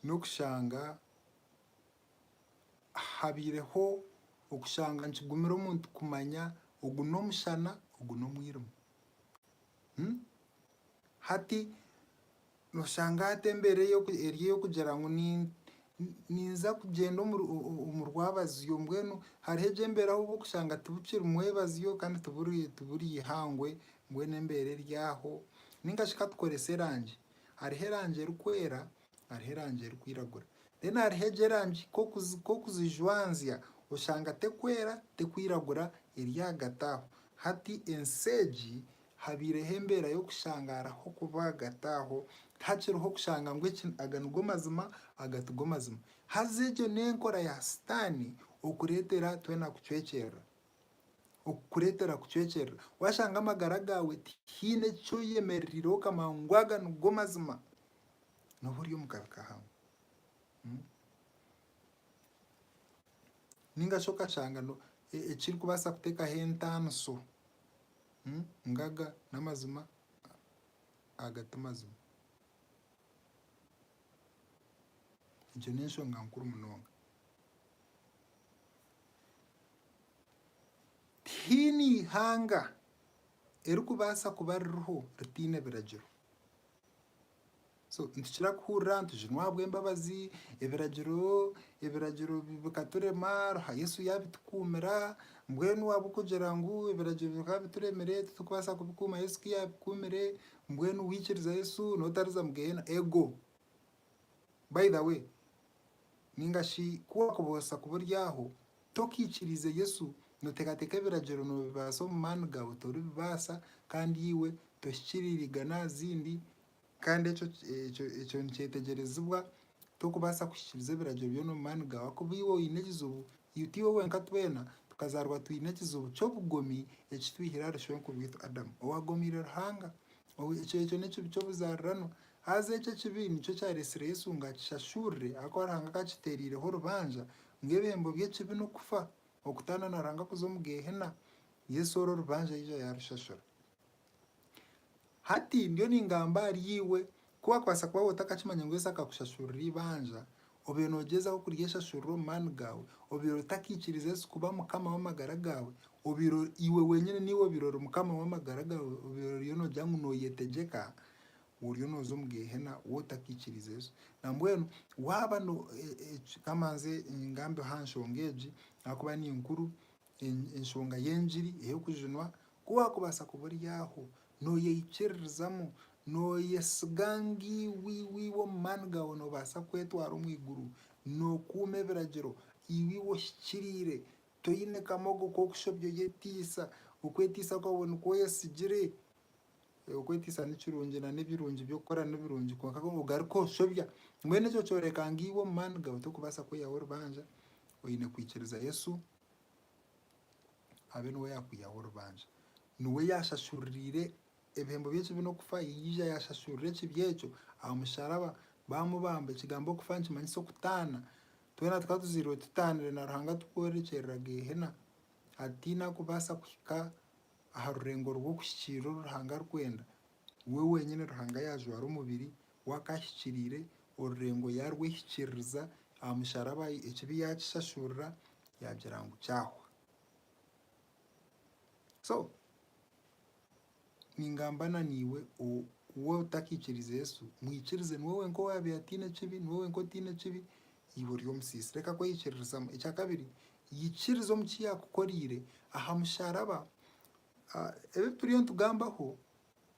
n'okushanga habaireho okushanga nikigumira omuntu kumanya ogu n'omushana ogu n'omwirima. Hati. Nooshanga hati embeera eri ey'okugira ngu ninza kugyenda omu rwabazyo. Mbwenu hariho egyo embeera ahu orikushanga tibikiri mwebazyo kandi tiburi eihangwe, mbwenu embeera eri aho. Nainga shi ka tukorese erangi, hariho erangi erikwera, hariho erangi erikwiragura. Reero hariho egyo erangi ku orikugijwanzya oshanga terikwera, terikwiragura, eri ahagati aho. Hati ensi egi Habaireho embeera y'okushangaara h'oku baagataaho, hakiriho kushanga ngu eki aga nigo mazima, aga tigo mazima. Haza egyo n'enkora ya Sitaane okureetera twena kucwekyerera, okukureetera kucwekyerera. Waashanga amagara gaawe tihaine eki oyemereriire okamanya ngu aga nigo mazima, nooba ori omu kabi kahango. Nainga shi okashanga ekirikubaasa kuteekaho entaaniso. Ngaga n'amazima aga ti mazima. Egyo n'enshonga nkuru munonga. Tihaine ihanga erikubaasa kuba ririho ritaine biragiro. So nitukira kuhurira nitujunwa ahabw'embabazi, ebiragiro ebiragiro bikaturema aha Yesu yaabitukuumira, mbwenu waaba okugira ngu ebiragiro bikaba bituremire titukubaasa kubikuuma Yesu ku yaabikuumire, mbwenu waikiriza Yesu n'otariza mu geeyeena? Ego. By the way, Ninga shi ku waakubaasa kuburyaho, tokaikiriize Yesu, nooteekateeka ebiragiro noobibaasa omu maani gaawe toribibaasa kandi iwe tohikiriirega n'aha zindi kandi ekyo ekyo ekyo nikyetegyereziibwa tokubaasa kuhikiiriza ebiragiro byona omu maani gaawe ahakuba iwe oine ekizibu iwe tiiwe wenka twena tukazaarwa twine ekizibu ky'obugomi ekitwihire ahari shwenkuru waitu Adamu owaagomiire Ruhanga, ekyo ekyo n'ekibi ky'obuzaariranwa Haza ekyo ekibi nikyo kyaretsire Yesu ngu akishashurire ahakuba Ruhanga akakitereireho orubanja ngu ebihembo by'ekibi n'okufa, okutaana na Ruhanga kuza omu Geehena. Yesu orwo orubanja yaija yaarushashura. Hati ndiyo ningamba ahari iwe, ku waakubaasa kuba otakakimanya ngu Yesu akakushashurira eibanja, Obaire noogyezaho kurya eshashurura omu maani gaawe, obaire otakaikiriza Yesu kuba Mukama w'amagara gaawe, obaire ori iwe wenyine naiwe obaire ori mukama w'amagara gaawe, obaire oriyo noogira ngu nooyetegyeka, oriyo nooza omu Geehena wootakaikiriza Yesu. Nambwenu waaba no, e, e, eki, ka mbanze ngambeho aha nshonga egi ahakuba ni nkuru, Enshonga y'engiri ey'okujunwa, ku waakubaasa kuba ori aho nooyeikiririzamu, nooyesiga ngu iwe iwe iwe omu maani gaawe noobaasa kwetwara omu iguru, nookuuma ebiragiro, iwe iwe ohikiriire, toine kamogo k'okushobya oyeteisa, okwetiisa kwawe nikwo oyesigire. Okwetiisa ni kirungi na n'ebirungi by'okukora ni birungi kwonka ku ogaruka oshobya mbwenu ekyo kyoreka ngu iwe omu maani gaawe torikubaasa kwihaho orubanja, oine kwikiriza Yesu abe niwe yaakwihaho orubanja. Niwe yaashashuririire ebihembo by'ekibi n'okufa yaija yaashashurira ekibi ekyo aha musharaba baamubamba. Ekigambo okufa nikimanyisa okutaana. Twena tukaba tuzairwe tutaanire na Ruhanga turikworekyeera Geehena, hati tihaine arikubaasa kuhika Aha rurengo rw'okuhikiirira oru Ruhanga arikwenda, we wenyine Ruhanga yaajwara omubiri, we akaahikiriire orurengo yaarwehikiririza aha musharaba ekibi yaakishashurira yaagira ngu kyahwa. So, ningamba na naiwe otakiikiriize Yesu, mwikirize niwe wenka owaabaire ataine kibi, niwe wenka otaine kibi, Iwe ori omusiisi, reka kweyikiririzamu. Ekya kabiri, yikiriza omu ki yaakukoreire aha musharaba. Ebi turiyo nitugambaho,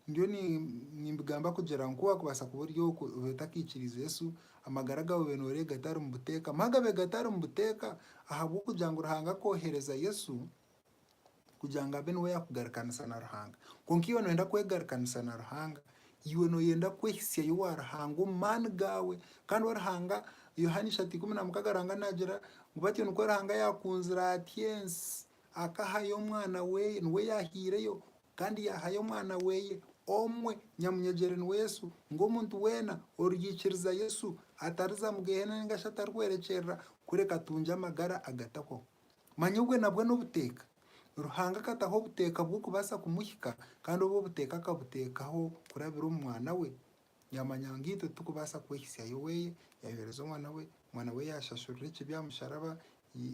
ndiyo nimbigamba kugira ngu ku waakubaasa kuba ori okwo obe otakaikiriize Yesu, amagara gaawe obe nooreeba gatari omu buteeka. Magabe gatari omu buteeka ahabw'okugira ngu Ruhanga akoohereza Yesu kugira ngu abe niwe yaakugarukanisa na Ruhanga. Kwonka iwe nooyenda kwegarukanisa na Ruhanga, iwe nooyenda kwehitsyayo owa Ruhanga omu maani gaawe. Kandi owa Ruhanga, Yohaana ishatu ikumi na mukaaga Ruhanga naagira ngu batyo nikwo Ruhanga yaakunzire atyo ensi, akahayo Omwana we, niwe yaahaireyo kandi yaahayo Omwana we omwe nyamunyagyere niwe Yesu, ngu omuntu weena oriikiriza Yesu atariza omu Geeheena nainga shi atarikwerekyerera kureka atungye amagara agatahwaho. Manya obwe nabwo n'obuteeka. Ruhanga akataho obuteeka bw'okubaasa kumuhika, kandi obwo obuteeka akabuteekaho kurabira omu Mwana we. Yaamanya ngu itwe titukubaasa kwehisyayo oweye, yaayohereza Omwana we, Omwana we yaashashurira ekibi aha musharaba,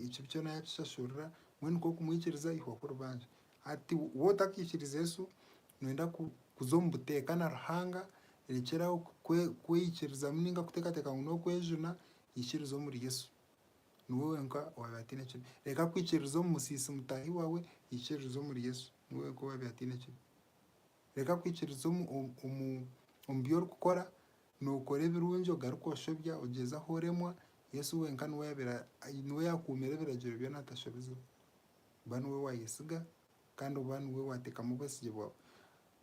ekibi kyona yaakishashurira, mbwenu ku okumwikiriza aihwaho orubanja. Hati wowe otakaikiriza Yesu, nooyenda kuza omu buteeka na Ruhanga, rekyera aho kwe kweikirizamu nainga kuteekateeka ngu n'okwejuna, ikiriza omuri Yesu. Niwe wenka owaabaire ataine kibi. Reka kwikiririza omu musiisi mutaahi waawe, ikiririza omuri Yesu. Niwe wenka owaabaire ataine kibi. Reka kwikiririza omu bi orikukora, nookora ebirungi ogaruke oshobya, ogyezaho oremwa, Yesu wenka niwe oyaabaire, niwe yaakuumire ebiragiro byona atashobizibwe. Ba niwe waayesiga kandi oba niwe waateekamu obwesigye bwawe.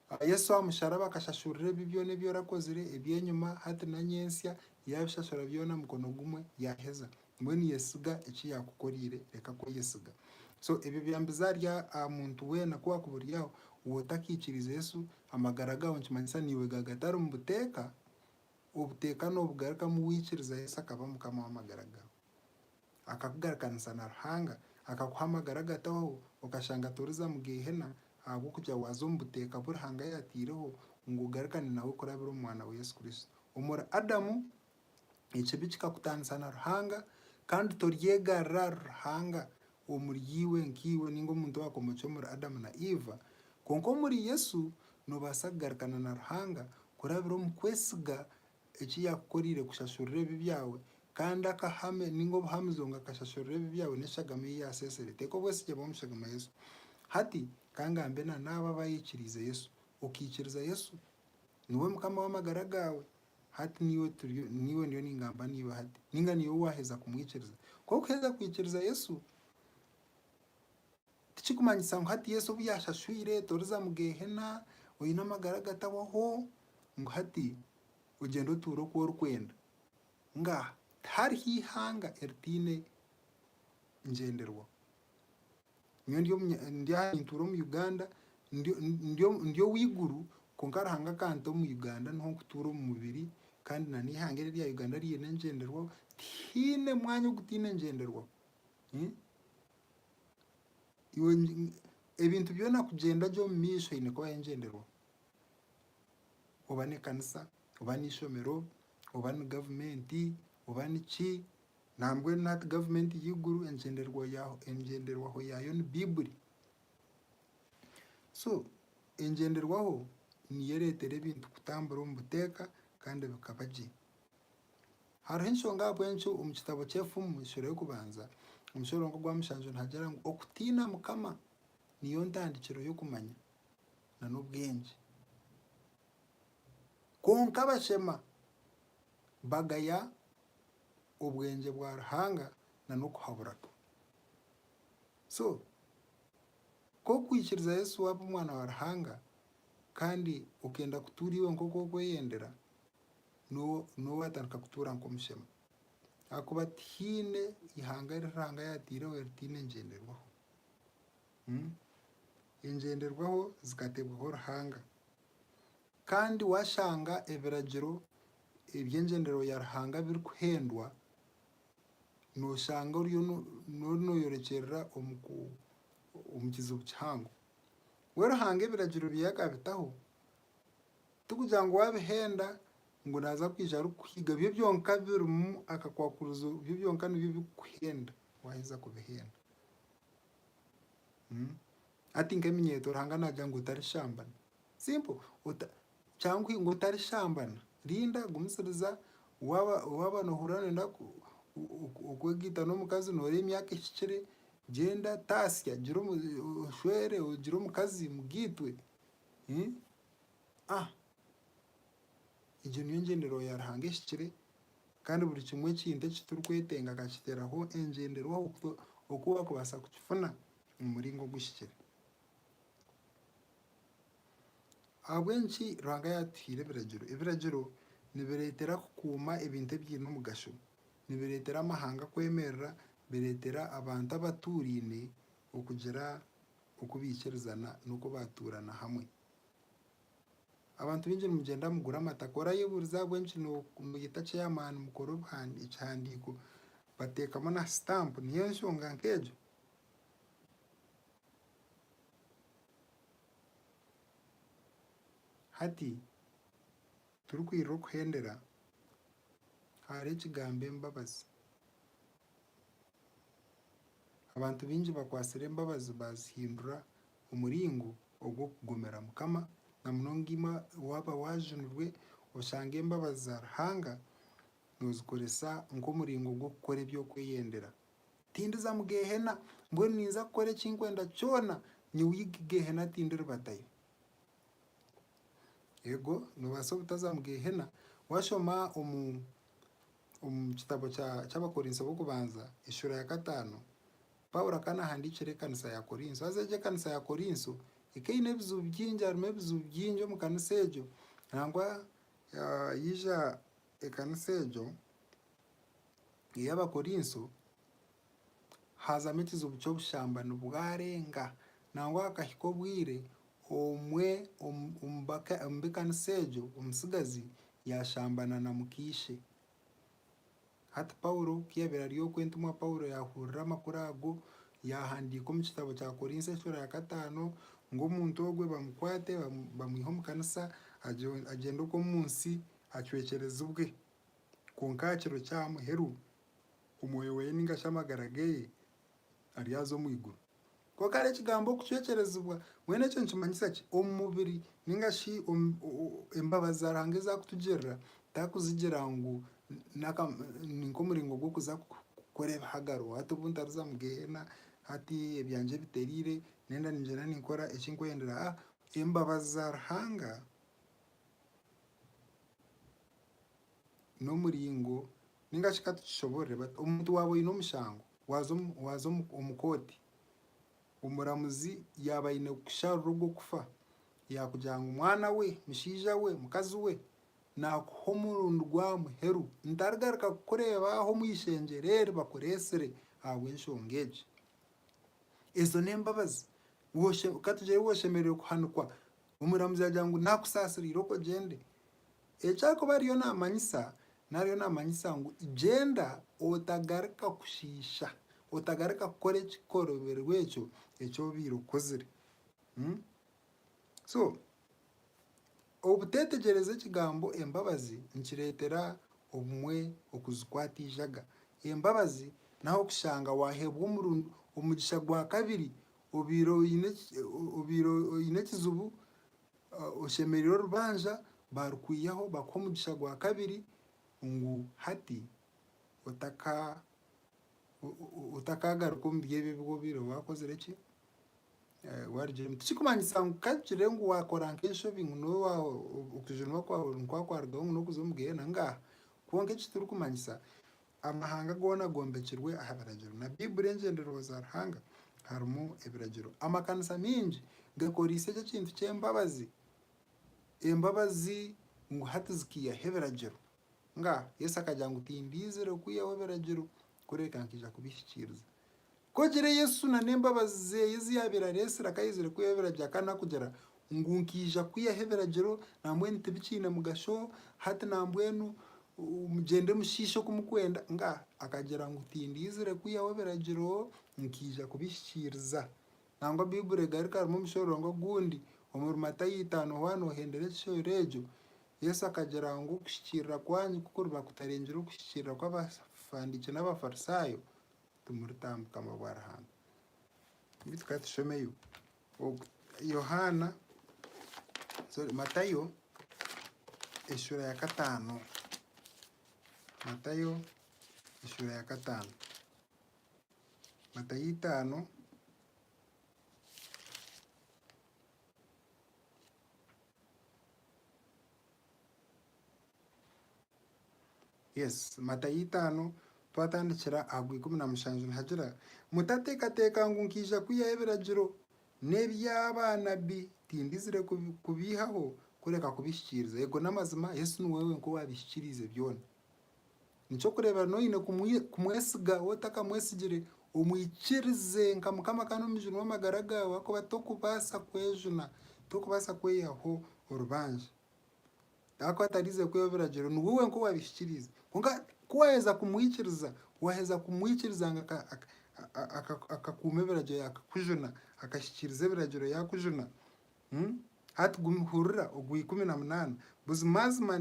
Aha Yesu aha musharaba akashashurira ebibi byona ebi orakozire, eby'enyima, hati na nyentsya, yabishashura byona aha mukono gumwe yaheza. Mbwenu yesiga eki yakukorire, reka kweyesiga. So ebyo byambize ahari aha muntu weena ku wakuburireho waaba otakaikiriize Yesu amagara gaawe nikimanyisa naiwe gaawe gatari omu buteeka, obuteeka noobugarukamu waikiriza Yesu akaba Mukama w'amagara gaawe. akakugarukanisa na Ruhanga, akakuha amagara agatahoho, okashanga toriza mu Geihena ahabw'okugira waaza omu buteeka bu Ruhanga yaataireho ngu ogarukane nawe kurabira omu Mwana we Yesu Kristo. Omuri Adamu, ekibi kikakutaanisa na Ruhanga kandi toryegarira ahari Ruhanga omuri iwe nkaiwe ninga omuntu owaakomokire omuri Adamu na Iva. Kwonka omuri Yesu, noobaasa kugarukana na Ruhanga kurabira omu kwesiga eki yaakukoreire kushashurira ebibi byawe, kandi akahame ninga obuhamizo ngu akashashurira ebibi byawe n'eshagama ei yaaseesere. Teeka obwesigye bwawe omu shagama Yesu. Hati ka ngambe na n'abo abaikiriize Yesu. Okaikiriza Yesu? Niwe Mukama w'amagara gaawe? Hati niiwe turiyo, niiwe ndiyo ningamba naiwe hati, ninga niiwe waaheza kumwikiriza? Ku orikuheza kwikiriza Yesu, Tikirikumanyisa ngu hati Yesu obu yaashashwire toriza mu Geehena, oine amagara agatahwaho, ngu hati ogyenda otuure oku orikwenda. Ngaaha, tihariho eihanga eritaine ngyenderwaho. Nyowe ndi aha nintuura omu Uganda, ndi ow'eiguru kwonka Ruhanga akanta omu Uganda niho nkutuura omu mubiri kandi n'eihanga eri erya Uganda ryine engyenderwaho, tihaine mwanya ogutaine ngyenderwaho. Ebintu byona kugyenda gye omu maisho eine kuba hariho engyenderwaho. Oba n'ekanisa, oba n'eishomero, oba ni gavumenti, oba ni ki, nambwenu nari gavumenti y'eiguru engyenderwaho yaayo ni Baiburi. So engyenderwaho niyo ereetera ebintu kutambura omu buteeka kandi bikaba gye. Hariho enshonga ahabw'enki omu kitabo ky'Efumu, Esuura y'Okubanza, omushororongo gwa mushanju nihagira ngu okutiina Mukama niyo ntandikiro y'okumanya na n'obwengye. Kwonka abashema bagaya obwengye bwa Ruhanga na n'okuhabura kwe. So, ku orikwikiriza Yesu waaba Omwana wa Ruhanga kandi okenda kutuura iwe nk'oku orikweyendera, n'ou atandika kutuura nk'omushema. Ahakuba tihaine ihanga eri Ruhanga yaataireho eritaine ngyenderwaho. Engyenderwaho zikateebwaho Ruhanga. Kandi waashanga ebiragiro eby'engyendererwa ya Ruhanga birikuhendwa, nooshanga oriyo nooyorekyerera omu kizibu kihango. Mbwenu Ruhanga ebiragiro ebye yaakabitaho, Tikugira ngu waabihenda ngu naaza kwija arikukuhiga. Byo byonka birimu akakwakurizo, byo byonka nibyo birikukuhenda waaheza kubihenda. Hati nk'eminyeeto Ruhanga naagira ngu otarishambana. Simpo, ota kyangwa ngu otarishambana. Rinda, gumisiriza, waaba waaba noohurira nooyenda ku ku okwegaita n'omukazi nooreeba emyaka ehikire, gyenda taasya gira omu oshwere ogire omukazi mugaitwe. Egyo niyo ngyendererwa ya Ruhanga ehikire, kandi buri kimwe ekintu eki turikwetenga akakiteeraho engyenderwaho oku waakubaasa kukifuna omu muringo oguhikire. Ahabw'enki Ruhanga yaatuhaire ebiragiro? Ebiragiro nibireetera kukuuma ebintu ebiine omugasho, nibireetera amahanga kwemerera, nibireetera abantu abatuuraine okugira oku baikirizana n'oku baatuurana hamwe. Abantu baingi nimugyenda mugura amataka. Orayebuuriza ahabw'enki noyeta chairman mukore ekihandiiko bateekamu na stamp niyo enshonga nk'egyo? Hati turikwirira okuhendera hariho ekigambo embabazi. Abantu baingi bakwatsire embabazi baazihindura omuringo ogw'okugomera Mukama, na munonga imwe waaba waajunirwe, oshanga embabazi za Ruhanga noozikoresa nk'omuringo gw'okukora eby'okweyendera. Tindiza mu Geehena, mbwenu ninza kukora eki nkwenda kyona, nyowe iga Geehena tindiribatayo. Eego, noobaasa obutaza mu Geehena. Waashoma omu Omu kitabo ky'Abakorinso b'Okubanza eshuura ya kataano, Paulo akaba naahandiikira ekanisa ya Korinso. Haza egyo ekanisa ya Korinso ekaba eine ebizibu bingi, harimu ebizibu bingi omu kanisa egyo. Nangwa yaija ekanisa egyo ey'Abakorinso, haazamu ekizibu ky'obushambani bwarenga nangwa hakahika obwire omwe omu b'ekanisa egyo omutsigazi yaashambana na muka-ishe. Hati Paulo ku yaabaire ari okwo, entumwa Paulo yaahurira amakuru ago, yaahandiika omu kitabo kya Korinso Ensura ya Kataano ngu omuntu ogwo bamukwate bamwihe omu kanisa agyende okwo omu nsi acwekyerezibwe. Kwonka aha kiro kya muheru omwoyo weye ninga shi amagara geye aryaza omu iguru. Konka hare ekigambo okucwecerezibwa, mbwenu eco nikimanyisa ki? Omu mubiri ninga shi embabazi za Ruhanga ezi akutugirira takuzigira ngu ni nk'omuringo gw'okuza kukora ebihagaro, hati obu ntariza omu Geheena, hati ebyangye ebiterire, nenda ningyenda ninkora eki nkwendera. Aa, embabazi za Ruhanga n'omuringo ninga shi ka tukishoborore but omuntu waaba oine omushango waaza omu waaza omu omu kooti, omuramuzi yaaba aine kukusharura ogwo kufa, yaakugira ngu mwana we, mushaija we, mukazi we, naakuha omurundi gwa muheru ntarigaruka kukureebaaho omu ishengyero eri bakureetsire ahabw'enshonga egi. Ezo n'embabazi. Woshe ka tugire oshemereire kuhanikwa Omuramuzi yaagira ngu, Naakusaasiriire okwo ogyende. Eki arikuba ariyo naamanyisa, naaba ariyo naamanyisa ngu gyenda otagaruka kushiisha, otagaruka kukora ekikorobirwe ekyo eki obaire okozire. So, obuteetegyereza ekigambo embabazi nikireetera obumwe okuzikwata eijaga. Embabazi n'ah'okushanga waaheebwa omugisha gwa kabiri Obaire obaire oine ekizibu, oshemereire orubanja, baarikwihaho bakuhe omugisha gwa kabiri ngu hati otaka otakaagaruka omu by'ebi ebi obaire waakozire ki waarugiire omu. Tikirikumanyisa ngu ka kugire ngu waakora nk'enshobi ngu n'owa okujuunwa kwawe nikwo kwarugaho ngu n'okuza omu gehenna, ngaaha. Kwonka eki tirikumanyisa, Amahanga goona gombekirwe aha biragiro. Na Baiburi engyendererwa za Ruhanga harimu ebiragiro. Amakanisa mingi gakoreise eki ekintu ky'embabazi. Embabazi ngu hati zikiihaho ebiragiro. Nga Yesu akagira ngu, Tindiizire kwihaho biragiro kureka nkaija kubihikiiriza. Ku ogire Yesu na n'embabazi zeye ezi yabire aresire akayezire kwihaho ebiragiro akaba nakugira ngu nkija kwihaho ebiragiro nambwenu tibikine mugasho hati nambwenu mugyende mushishe oku mukwenda nga akagira ngu tindizire kwihaho ebiragiro nkija kubihikiriza. Nangwa Baiburi egarika harimu omushororongo ogundi omuri Matayo itano hoo hanu ohendera ekishoro egyo Yesu akagira ngu okuhikirira kwanyu ku kuriba kutarengire okuhikirira kwa Abafandikye na Abafarisayo timuritaha omu bukama bwa Ruhanga. Beitu ka tushomeyo oku Yohaana, sorry, Matayo eshuura ya kataano. Matayo eshuura ya kataano. Matayo itaano Yes, Matayo itaano twatandikira aha gwa ikumi na mushanju nihagira, Mutateekateeka ngu nkaija kwihaho ebiragiro n'ebya baanabbi, tindizire kubiihaho kureka kubihikiiriza. Ego n'amazima, Yesu niwe wenka owaabihikiriize byona. Niky'okureebera na oine kumwesiga, waaba otakamwesigire omwikirize nka Mukama kandi omujune w'amagara gaawe ahakuba tokubaasa kwejuna, tokubaasa kweyihaho orubanja. Kwonka ku atarize kwiha ebiragiro, niwe wenka owabihikiriize. Kwonka ku waheza kumwikiriza, waheza kumwikiriza ngu akakuuma ebiragiro yaakakujuna, akahikiriza ebiragiro yaakujuna. Hati hurira ogwa ikumi na munaana, Buzimazima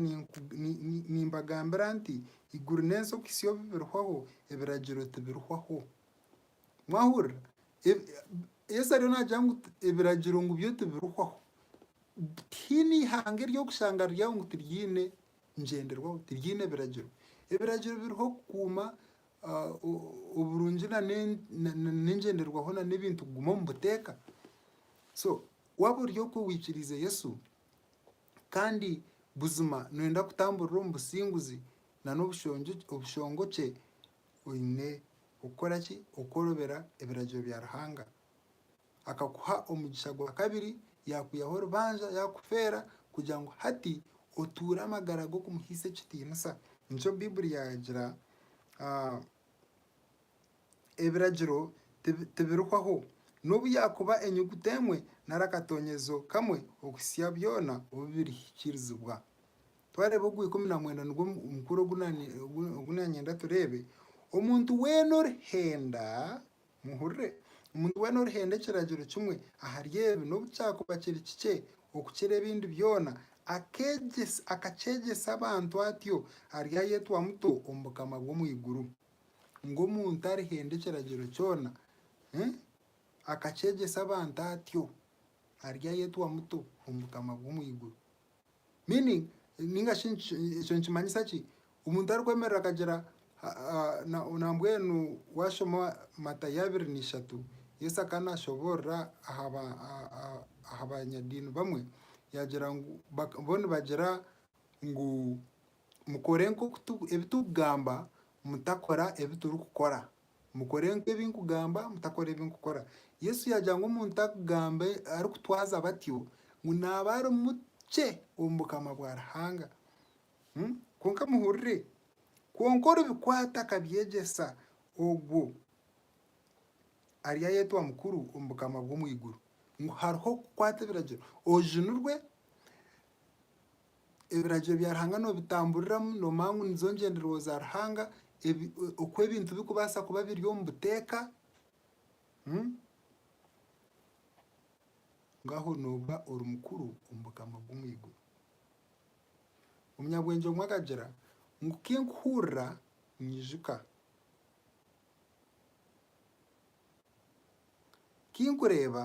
nimbagambira nti, Eiguru n'ensi okuhitsya obu birihwaho, ebiragiro tibirihwaho. Mwahurira? Yesu ariyo nagira ngu ebiragiro ngu byo tibirihwaho. Tihaine ihanga eri orikushanga riri aho ngu tiryiine ngyenderwaho, tiryiine biragiro. Ebiragiro biriho kukuuma oburungi na n'engyenderwaho na n'ebintu kuguma omu buteeka. So waaba ori okwe oikiriize Yesu kandi buzima nooyenda kutamburira omu businguzi na n'obushongokye, Oine kukora ki okworobera ebiragiro bya Ruhanga? Akakuha omugisha gwa kabiri, yaakwihaho orubanja, yaakufeera kugira ngu hati otuure amagara g'okumuhaisa ekitiinisa. Nikyo Baiburi yaagira, Ebiragiro tibirihwaho. N'obu yaakuba enyuguta emwe nari akatoonyezo kamwe okuhitsya byona obu birihikiirizibwa. Twareeba ogwa ikumi na mwenda nigwo mukuru ogu ogu nanyenda tureebe. Omuntu weena orihenda, muhurire, omuntu weena orihenda ekiragiro kimwe ahari ebi n'obu kyakuba kiri kikye okukira ebindi byona, akeegyesa akakyegyesa abantu atyo, aryayetwa muto omu bukama bw'omu iguru. Ngu omuntu arihenda ekiragiro kyona akakyegyesa abantu atyo, aryayetwa muto omu bukama bw'omu iguru. Meaning, ninga shi ekyo nikimanyisa ki? Omuntu arikwemerera akagira nambwenu washoma Matayo abiri na ishatu, Yesu akaba nashoborora aha banyadiini bamwe, yagira ngu bo nibagira ngu mukore nk'oku ebi turikugamba, mutakora ebi turikukora. Mukore nk'ebi nkugamba, mutakora ebi nkukora. Yesu yaagira ngu omuntu arikugambe, arikutwaza batyo, ngu naaba ari mukye omu bukama bwa Ruhanga. Kwonka muhurire, kwonka oribikwata akabyegyesa, ogwo aryayetwa mukuru omu bukama bw'omu iguru. Ngu hariho okukwata ebiragiro, ojunirwe, Ebiragiro bya Ruhanga noobitamburiramu, noomanya ngu nizo ngyendererwa za Ruhanga, ebi oku ebintu birikubaasa kuba biri omu buteeka, ngaaho nooba ori mukuru omu Bukama bw'omu iguru. Omunyabwengye omwe akagira ngu, Ku nkuhurira nyijuka, ku nkureeba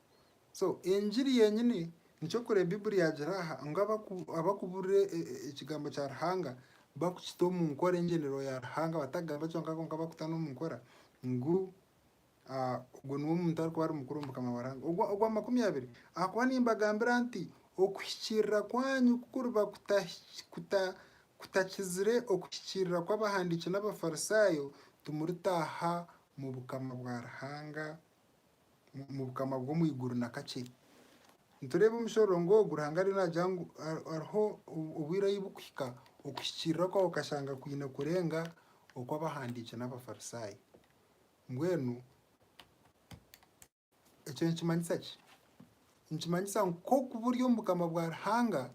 So engiri yenyini nikyo kureba Bibuli yagira aha ngu abakuburira ekigambo kya Ruhanga bakukita omu nkora engyendererwa ya Ruhanga batakugamba kyonka kwonka bakuta n'omu nkora ngu ogwo niwe muntu arikuba ari mukuru omu bukama bwa Ruhanga. Ogwa makumi abiri, ahakuba nimbagambira nti okuhikiirira kwanyu kukuriba kutakizire okuhikiirira kw'abahandiiki n'Abafarisaayo, timuritaaha mu bukama bwa Ruhanga. omu bukama bw'omu iguru na kakye. Nitureeba omushororongo ogu Ruhanga ariyo naagira ngu hariho obwire ahu burikuhika okuhikiirira kwawe okashanga kwine kurenga okw'abahandiiki n'Abafarisaayo. Mbwenu ekyo nikimanyisa ki? Nikimanyisa ngu nk'oku buri omu bukama bwa Ruhanga,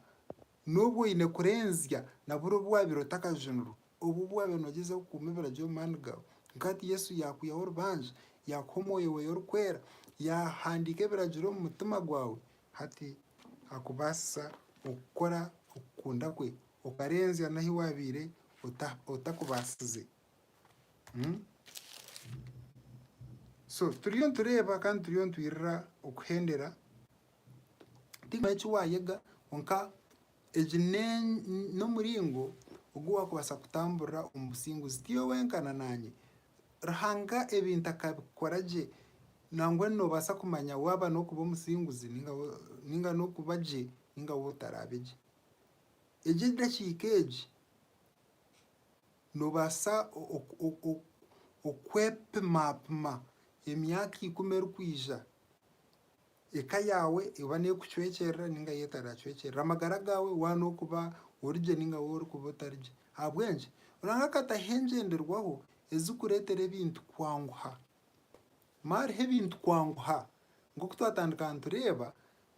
n'obu oine kurenzya na buri obu waabaire otakajunirwe Obu bwaabe nogyeza kukuuma ebiragiro omu maani gaawe, nkahati Yesu yaakwihaho orubanja, yaakuha omwoyo weeye orikwera, yaahandiika ebiragiro omu mutima gwaawe, hati akubaasisa okukora okukunda kwe okarenzya n'ahu waabaire otakubaasize. So turiyo nitureeba kandi turiyo nitwirira okuhendera, tihaine eki waayega kwonka Egi n'omuringo ogu waakubaasa kutamburira omu businguzi. Tiiwe wenka na naanye. Ruhanga ebintu akabikora gye. Nangwa noobaasa kumanya waaba n'okuba omusinguzi nainga n'okuba gye nainga waaba otaraabe gye. Egi edakiika egi, noobaasa okwepimapima emyaka ikumi erikwija Eka yaawe eba n'erikucwekyerera ninga yo etaracwekyerera, amagara gaawe waaba n'okuba ori gye ninga waaba orikuba otari gye. Ahabw'enki? Ruhanga akataho engyenderwaho ezirikureetera ebintu kwanguha. Maariho ebintu kwanguha. Nk'oku twatandika nitureeba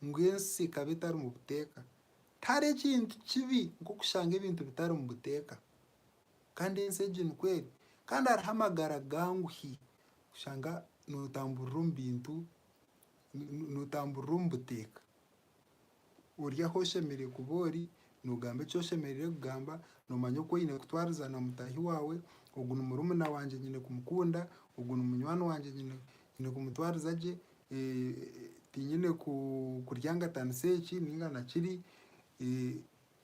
ngu ensi ekaba etarimu buteeka. Tihariho ekintu kibi nk'okushanga ebintu bitarimu buteeka. Kandi ensi egi nikwo eri. Kandi hariho amagara ganguhi kushanga nootamburira omu bintu nootamburira omu buteeka. Ori ahu oshemereire kuba ori, noogamba eki oshemereire kugamba, noomanya oku oine kutwariza na mutaahi waawe, ogu ni murumuna wangye nyine kumukunda, ogu ni munywani wangye nyine kumutwariza gye, tinyine kuryangatanisa eki nainga na kiri.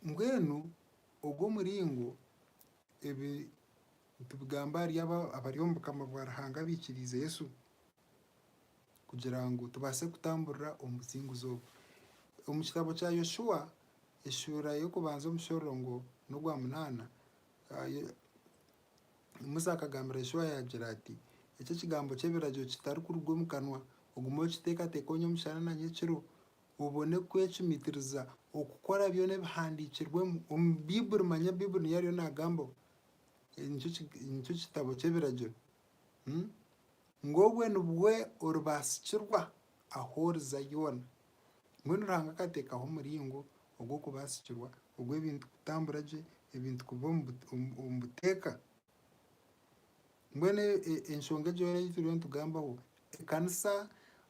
Mbwenu ogu omuringo ebi nitubigamba ahari abari omu Bukama bwa Ruhanga abaikiriize Yesu. kugira ngu tubaase kutamburira omu businguzi obu. Omu kitabo kya Yoshua eshuura y'okubanza omushororongo n'ogwa munaana, Musa akagambira Yoshua yaagira ati, Eki ekigambo ky'ebiragiro kitarikuruga omu kanwa, ogume okiteekateeka onye omushana na nyekiro, obone kwecumitiriza okukora byona ebihandiikirwemu omu Baiburi, manya Baiburi niyo ariyo naagambaho, nikyo kitabo ky'ebiragiro. Ngu obwe nibwe oribaasikirwa ahu oriza yoona. Mbwenu Ruhanga akateekaho omuringo ogw'okubaasikirwa ogw'ebintu kutambura gye, ebintu kuba omu buteeka. Mbwenu enshonga egyo yoona ei turiyo nitugambaho, ekanisa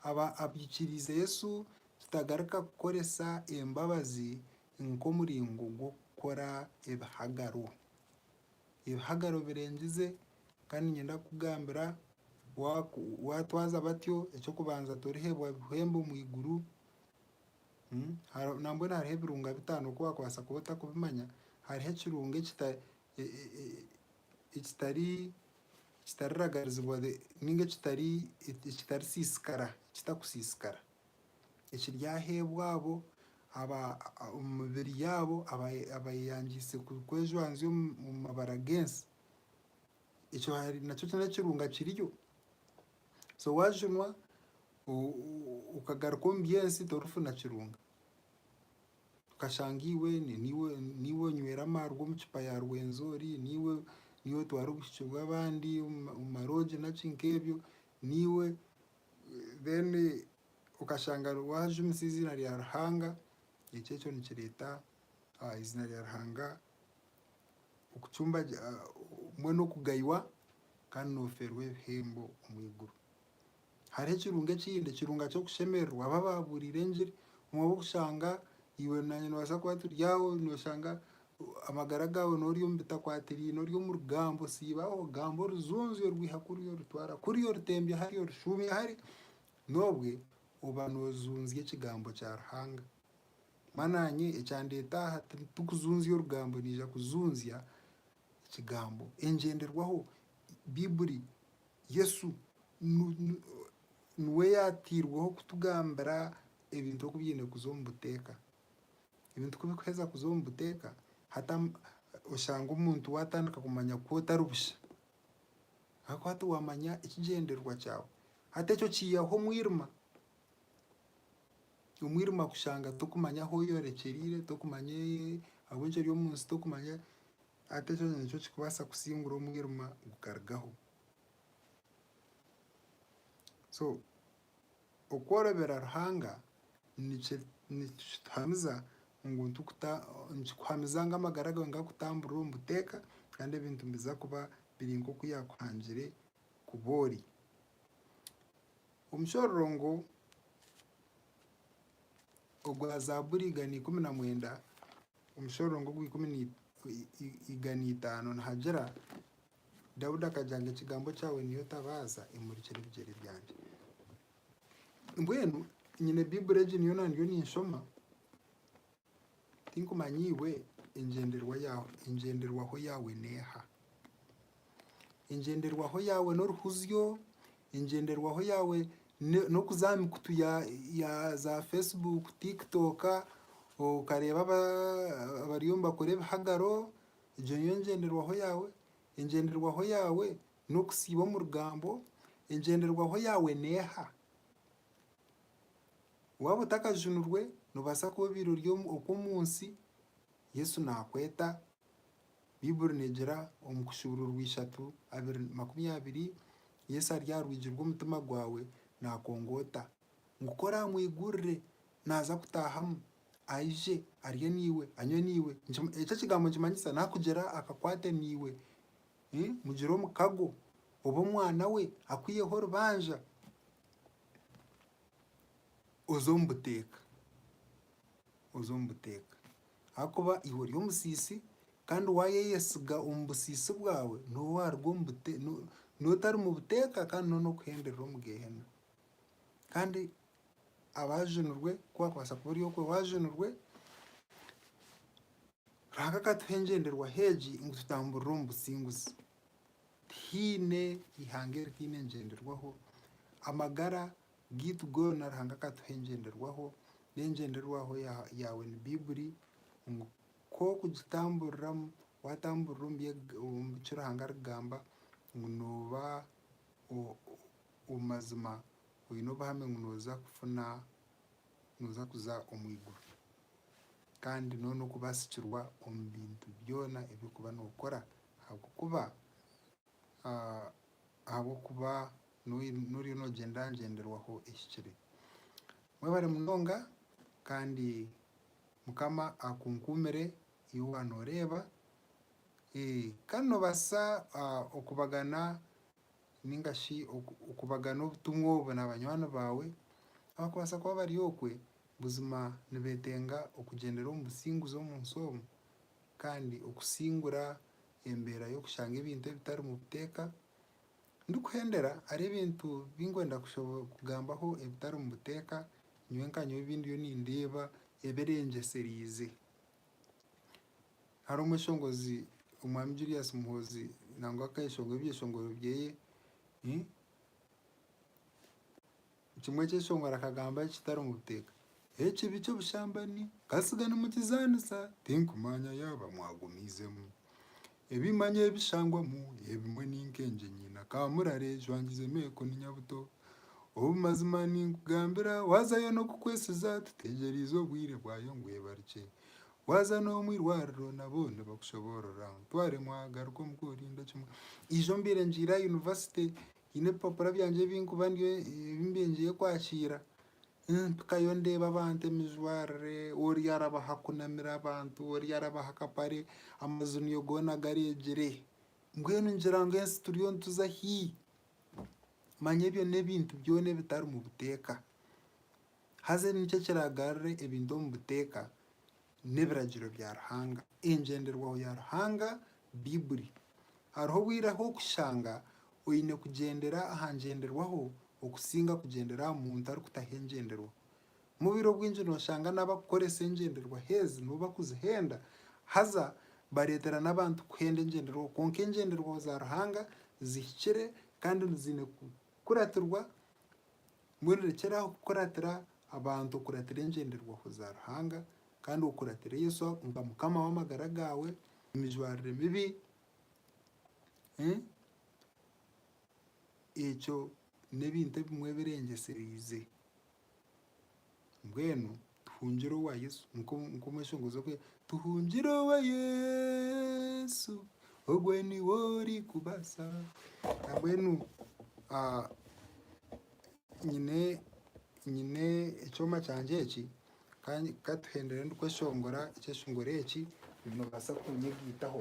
abaikiriize Yesu tutagarika kukoresa embabazi nk'omuringo gw'okukora ebihagaro. Ebihagaro birengize Kandi niinyenda kukugambira, waatwaza batyo, eky'okubanza torihebwa buhembo omu iguru. Nambwenu hariho ebirunga bitaano ku waakubaasa kuba otarikubimanya. Hariho ekirunga ekitaragarizibwa nainga ekitarisiisikara, ekitakusiisikara, ekiryahebwa abo omu mibiri yaabo abeeyangiise kwejwanzya omu mabara g'ensi. ekyo hari nakyo kiri n'ekirunga kiriyo. So waaginwa okagaruka omu byensi torikufuna kirunga. Okashanga iwe niiwe niiwe onywera amarwa omu kicupa ya Rwenzori, niiwe niiwe otwara obushiki bw'abandi omu ma omu maroogi naki nk'ebyo, niiwe then okashanga waajumisa eiziina rya Ruhanga, ekyo ekyo nikireeta eiziina rya Ruhanga okucumbagirwa, mbwenu okugaywa kandi noofeerwa ebihembo omu iguru. Hariho ekirungo ekindi, ekirungo ky'okushemererwa abo abaabuuriire engiri. Obumwe bw'okushanga iwe naanye noobaasa kuba turi aho nooshanga amagara gaawe n'ori omu bitakwatiraine ori omu rugambo osiiba aho ogamba orujunzyo orwiha kuri orutwara kuri orutembya hari orushuumya hari, n'obwe oba noojunzya ekigambo kya Ruhanga. Konka naanye ekyandeeta aha tikukuzunzya orugambo, naija kuzunzya ekigambo, engyenderwaho, Baiburi, Yesu niwe yaateirweho kutugambira ebintu oku byaine kuza omu buteeka. Ebintu ku birikuheeza kuza omu buteeka, hati oshanga omuntu waatandika kumanya ku otari busha. Ahakuba hati waamanya ekigyendererwa kyawe. Hati ekyo kiihaho omwirima. omwirima kushanga tokumanya ahu oyorekyereire tokumanya ahabw'enki ori omu nsi tokumanya hati ekyo nikyo kikubaasa kusingura omwirima gukarugaho so okworobera Ruhanga nikye nikituhamiza ngu tukuta nikikuhamiza ngu amagara gaawe gakutamburire omu buteeka kandi ebintu nibiza kuba biri nk'oku yaakuhangire kuba ori. Omushororongo ogwa Zaaburi igana ikumi na mwenda, omushororongo ogw'ikumi na igana itaano nihagira, Daudi akagira ngu ekigambo kyawe niyo tabaaza emurikire ebigyere byangye. Mbwenu nyine Baiburi egi nyowe naandiyo ninshoma, Tinkumanya iwe, engyenderwaho yaawe n'eha? Engyenderwaho yaawe n'oruhuzyo? Engyenderwaho yaawe n'okuza aha mikutu ya zaafeesibuuku, tiikitooka okareeba abariyo nibakora ebihagaro? Egyo niyo ngyenderwaho yaawe? Engyenderwaho yaawe n'okusiiba omu rugambo? Engyenderwaho yaawe n'eha? Waaba otakajunirwe, noobaasa kuba obaire ori okw'omu nsi, Yesu naakweta. Baibuli neegira omu Kushuburwa orw'eishatu abiri makumi abiri, Yesu ari aha rwigi rw'omutima gwawe naakongoota ngu ku oraamwigurire naaza kutaahamu, aije arye naiwe, anywe naiwe. Eki ekigambo nikimanyisa naakugira akakwate naiwe, mugire omukago, obe omwana we, akwiheho orubanja. oze omu buteeka, oze omu buteeka ahakuba iwe ori omusiisi kandi waayeyesiga omu busiisi bwawe niho waaruga omu bute no n'otari mu buteeka kandi niho n'okuhenderera omu geehena. Kandi abaajunirwe ku waakubaasa kuba ori okwe waajunirwe. Ruhanga akatuha engyenderwaho egi ngu tutamburire omu businguzi. Tihaine ihanga eritaine engyenderwaho. Amagara gaitu goona Ruhanga akatuha engyenderwaho, n'engyenderwaho yaawe ni Baibuli ngu k'okugitamburiramu, waatamburira omu bi Ruhanga arikugamba ngu nooba omu mazima oine obuhame ngu nooza kufuna nooza kuza omu iguru. Kandi noona okubasikirwa omu bintu byona ebi orikuba nookora ahabw'okuba ahabw'okuba noriyo noogyenda ngyenderwaho ehikire. Mwebare munonga kandi Mukama akunkuumire iwe waaba nooreeba. Kandi noobaasa okubagana nainga shi okubagana obutumwa obu na banywani baawe abakubaasa kuba bari okwe buzima nibeetenga okugyendera omu businguzi omu nsi omu kandi okusingura embeera y'okushanga ebintu ebitarimu buteeka? Ndikuhendera hariho ebintu binkwenda kugambaho ebitarimu buteeka nyowe nka nyowe ebi ndiyo nindeeba ebirengyesireize. Hariho omweshongozi omwami Julius Muhoozi nangwa akeshongora ebyeshongoro byeye kimwe ekyeshongoro akagamba ekitari omu buteeka ekibi ky'obushambani katsiga nimukizanisa tinkumanya yaaba mwagumiizemu. Ebi manya ebishangwamu ebimwe ni nk'engye nyina ka murare ejwangize emeeko ni nyabuto. Obumazima ninkugambira waazayo n'okukwesiza tuteegyereize obwire bwayo ngu ebarikye. Waaza n'omu irwariro nabo nibakushoboorora. Ntwaremu aha garuka omuka orinde kimwe. Eijo mbaire ngiire aha yunivasite. Haine ebipapura byangye ebi nkuba ndiyo ebi mbyengyeyo kwakiira. Mpikayo ndeeba abantu emijwarire, ori araba aha kunamira abantu, ori araba aha kapare, amaju niyo goona gareegire. Mbwenu ngira ngu ensi turiyo nituza hi? Manya ebyo n'ebintu byona ebitari mu buteeka. Haza nikyo kiragarure ebintu omu buteeka. n'ebiragiro bya Ruhanga, engyenderwaho ya Ruhanga, Baibuli. Hariho obwire ahu okushanga oine kugyendera aha ngyenderwaho okusinga kugyendera aha muntu arikutaho engyenderwaho. Mubiro bwingi noshanga n'abakukoresa engyenderwaho ezi nibo bakuzihenda, haza bareetera n'abantu kuhenda engyenderwaho. Kwonka engyenderwaho za Ruhanga zihikire kandi ziine kukuratirwa. Mbwenu rekyera aho kukuratira abantu, okuratira engyenderwaho za Ruhanga, kandi okuratire Yesu nka Mukama w'amagara gaawe, emijwarire mibi, ekyo n'ebintu ebimwe ebirengyesereize. Mbwenu Tuhungire owa Yesu nikwo omweshongozi oku yaagira, Tuhungire owa Yesu, ogwe niwe orikubaasa. Nambwenu nyine nyine ekyoma kyangye eki, ka ka tuhendere ndikweshongora ekyeshongoro eki noobaasa kunyegaitaho.